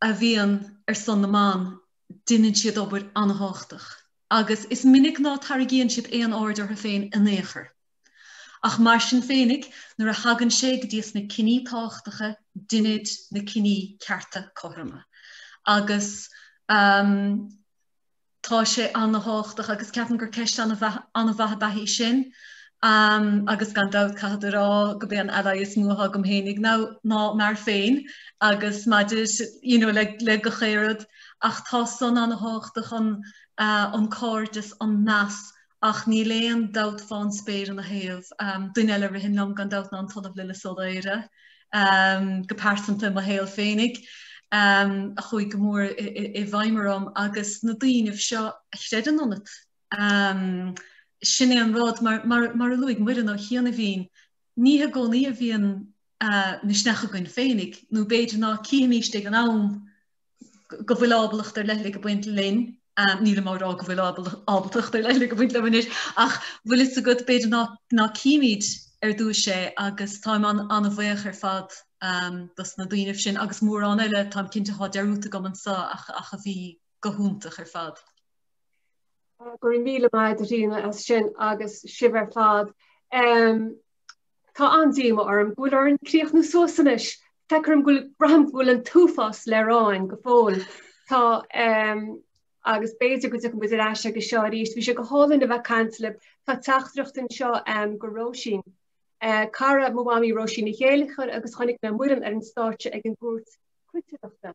a bhíonn ar son na mban, deinid siad obair an-tábhachtach agus is minic ná tarraigíonn siad aon aird orthu féin in aon chor. Ach mar sin féinig, nuair a thagann sé go dtís na cinní tábhachtacha deinid na cinní cearta cothroma agus. Tá sé ana-thábhachtach agus ceapaim gur ceist ana-mhaith ab ea í sin agus gan dabht caithfead a rá gurb é an ally is mó atá agam féinig ná m'fhear féin agus maidir you know le gach aon rud ach tá san ana-thábhachtach an cairdeas, an meas ach níl aon dabht fán spéir ina thaobh. Duine eile a ritheann liom gan dabht ná an tOllamh Lillis Ó Laoire, go pearsanta i mo shaol féinig, a chuaigh go mór i bhfeidhm orm agus na daoinibh seo a chreideann ionat. Sin é an rud, mar a luaigh Muireann ó chianaibhín, ní i gcónaí a bhíonn misneach againn féinig, nó b'fhéidir ná cífimíst é ag an am, go bhfuil ábaltacht ar leithligh ag baint linn, nílim á rá go bhfuil ábaltacht ar leithligh ag baint liom anois, ach bhfuil fhios agat b'fhéidir ná címid ar dtúis é agus táim an-bhuíoch ar fad dos na daoinibh sin agus mórán eile táim cinnte athá dearúdta agam anso ach a bhí go hiontach ar fad. Go raibh míle maith agat a Ríona as sin agus sibh ar fad. Tá an-díomá orm go bhfuil orainn críochnú suas anois. Feictear go bhfuil, braithim go bhfuil an t-uafás le rá againn go fóill. Tá ehm, agus b'fhéidir go dtiocfaidh muid ar ais aige seo arís. Bhí sé go hálainn a bheith ag caint libh. Tá teachtaireacht anseo ehm, go Róisín. Eh, cara mo Mhamaí Róisín Ní Chéilleachair agus chonaic mé Muireann ar an stáitse ag an gcúirt cuideachta.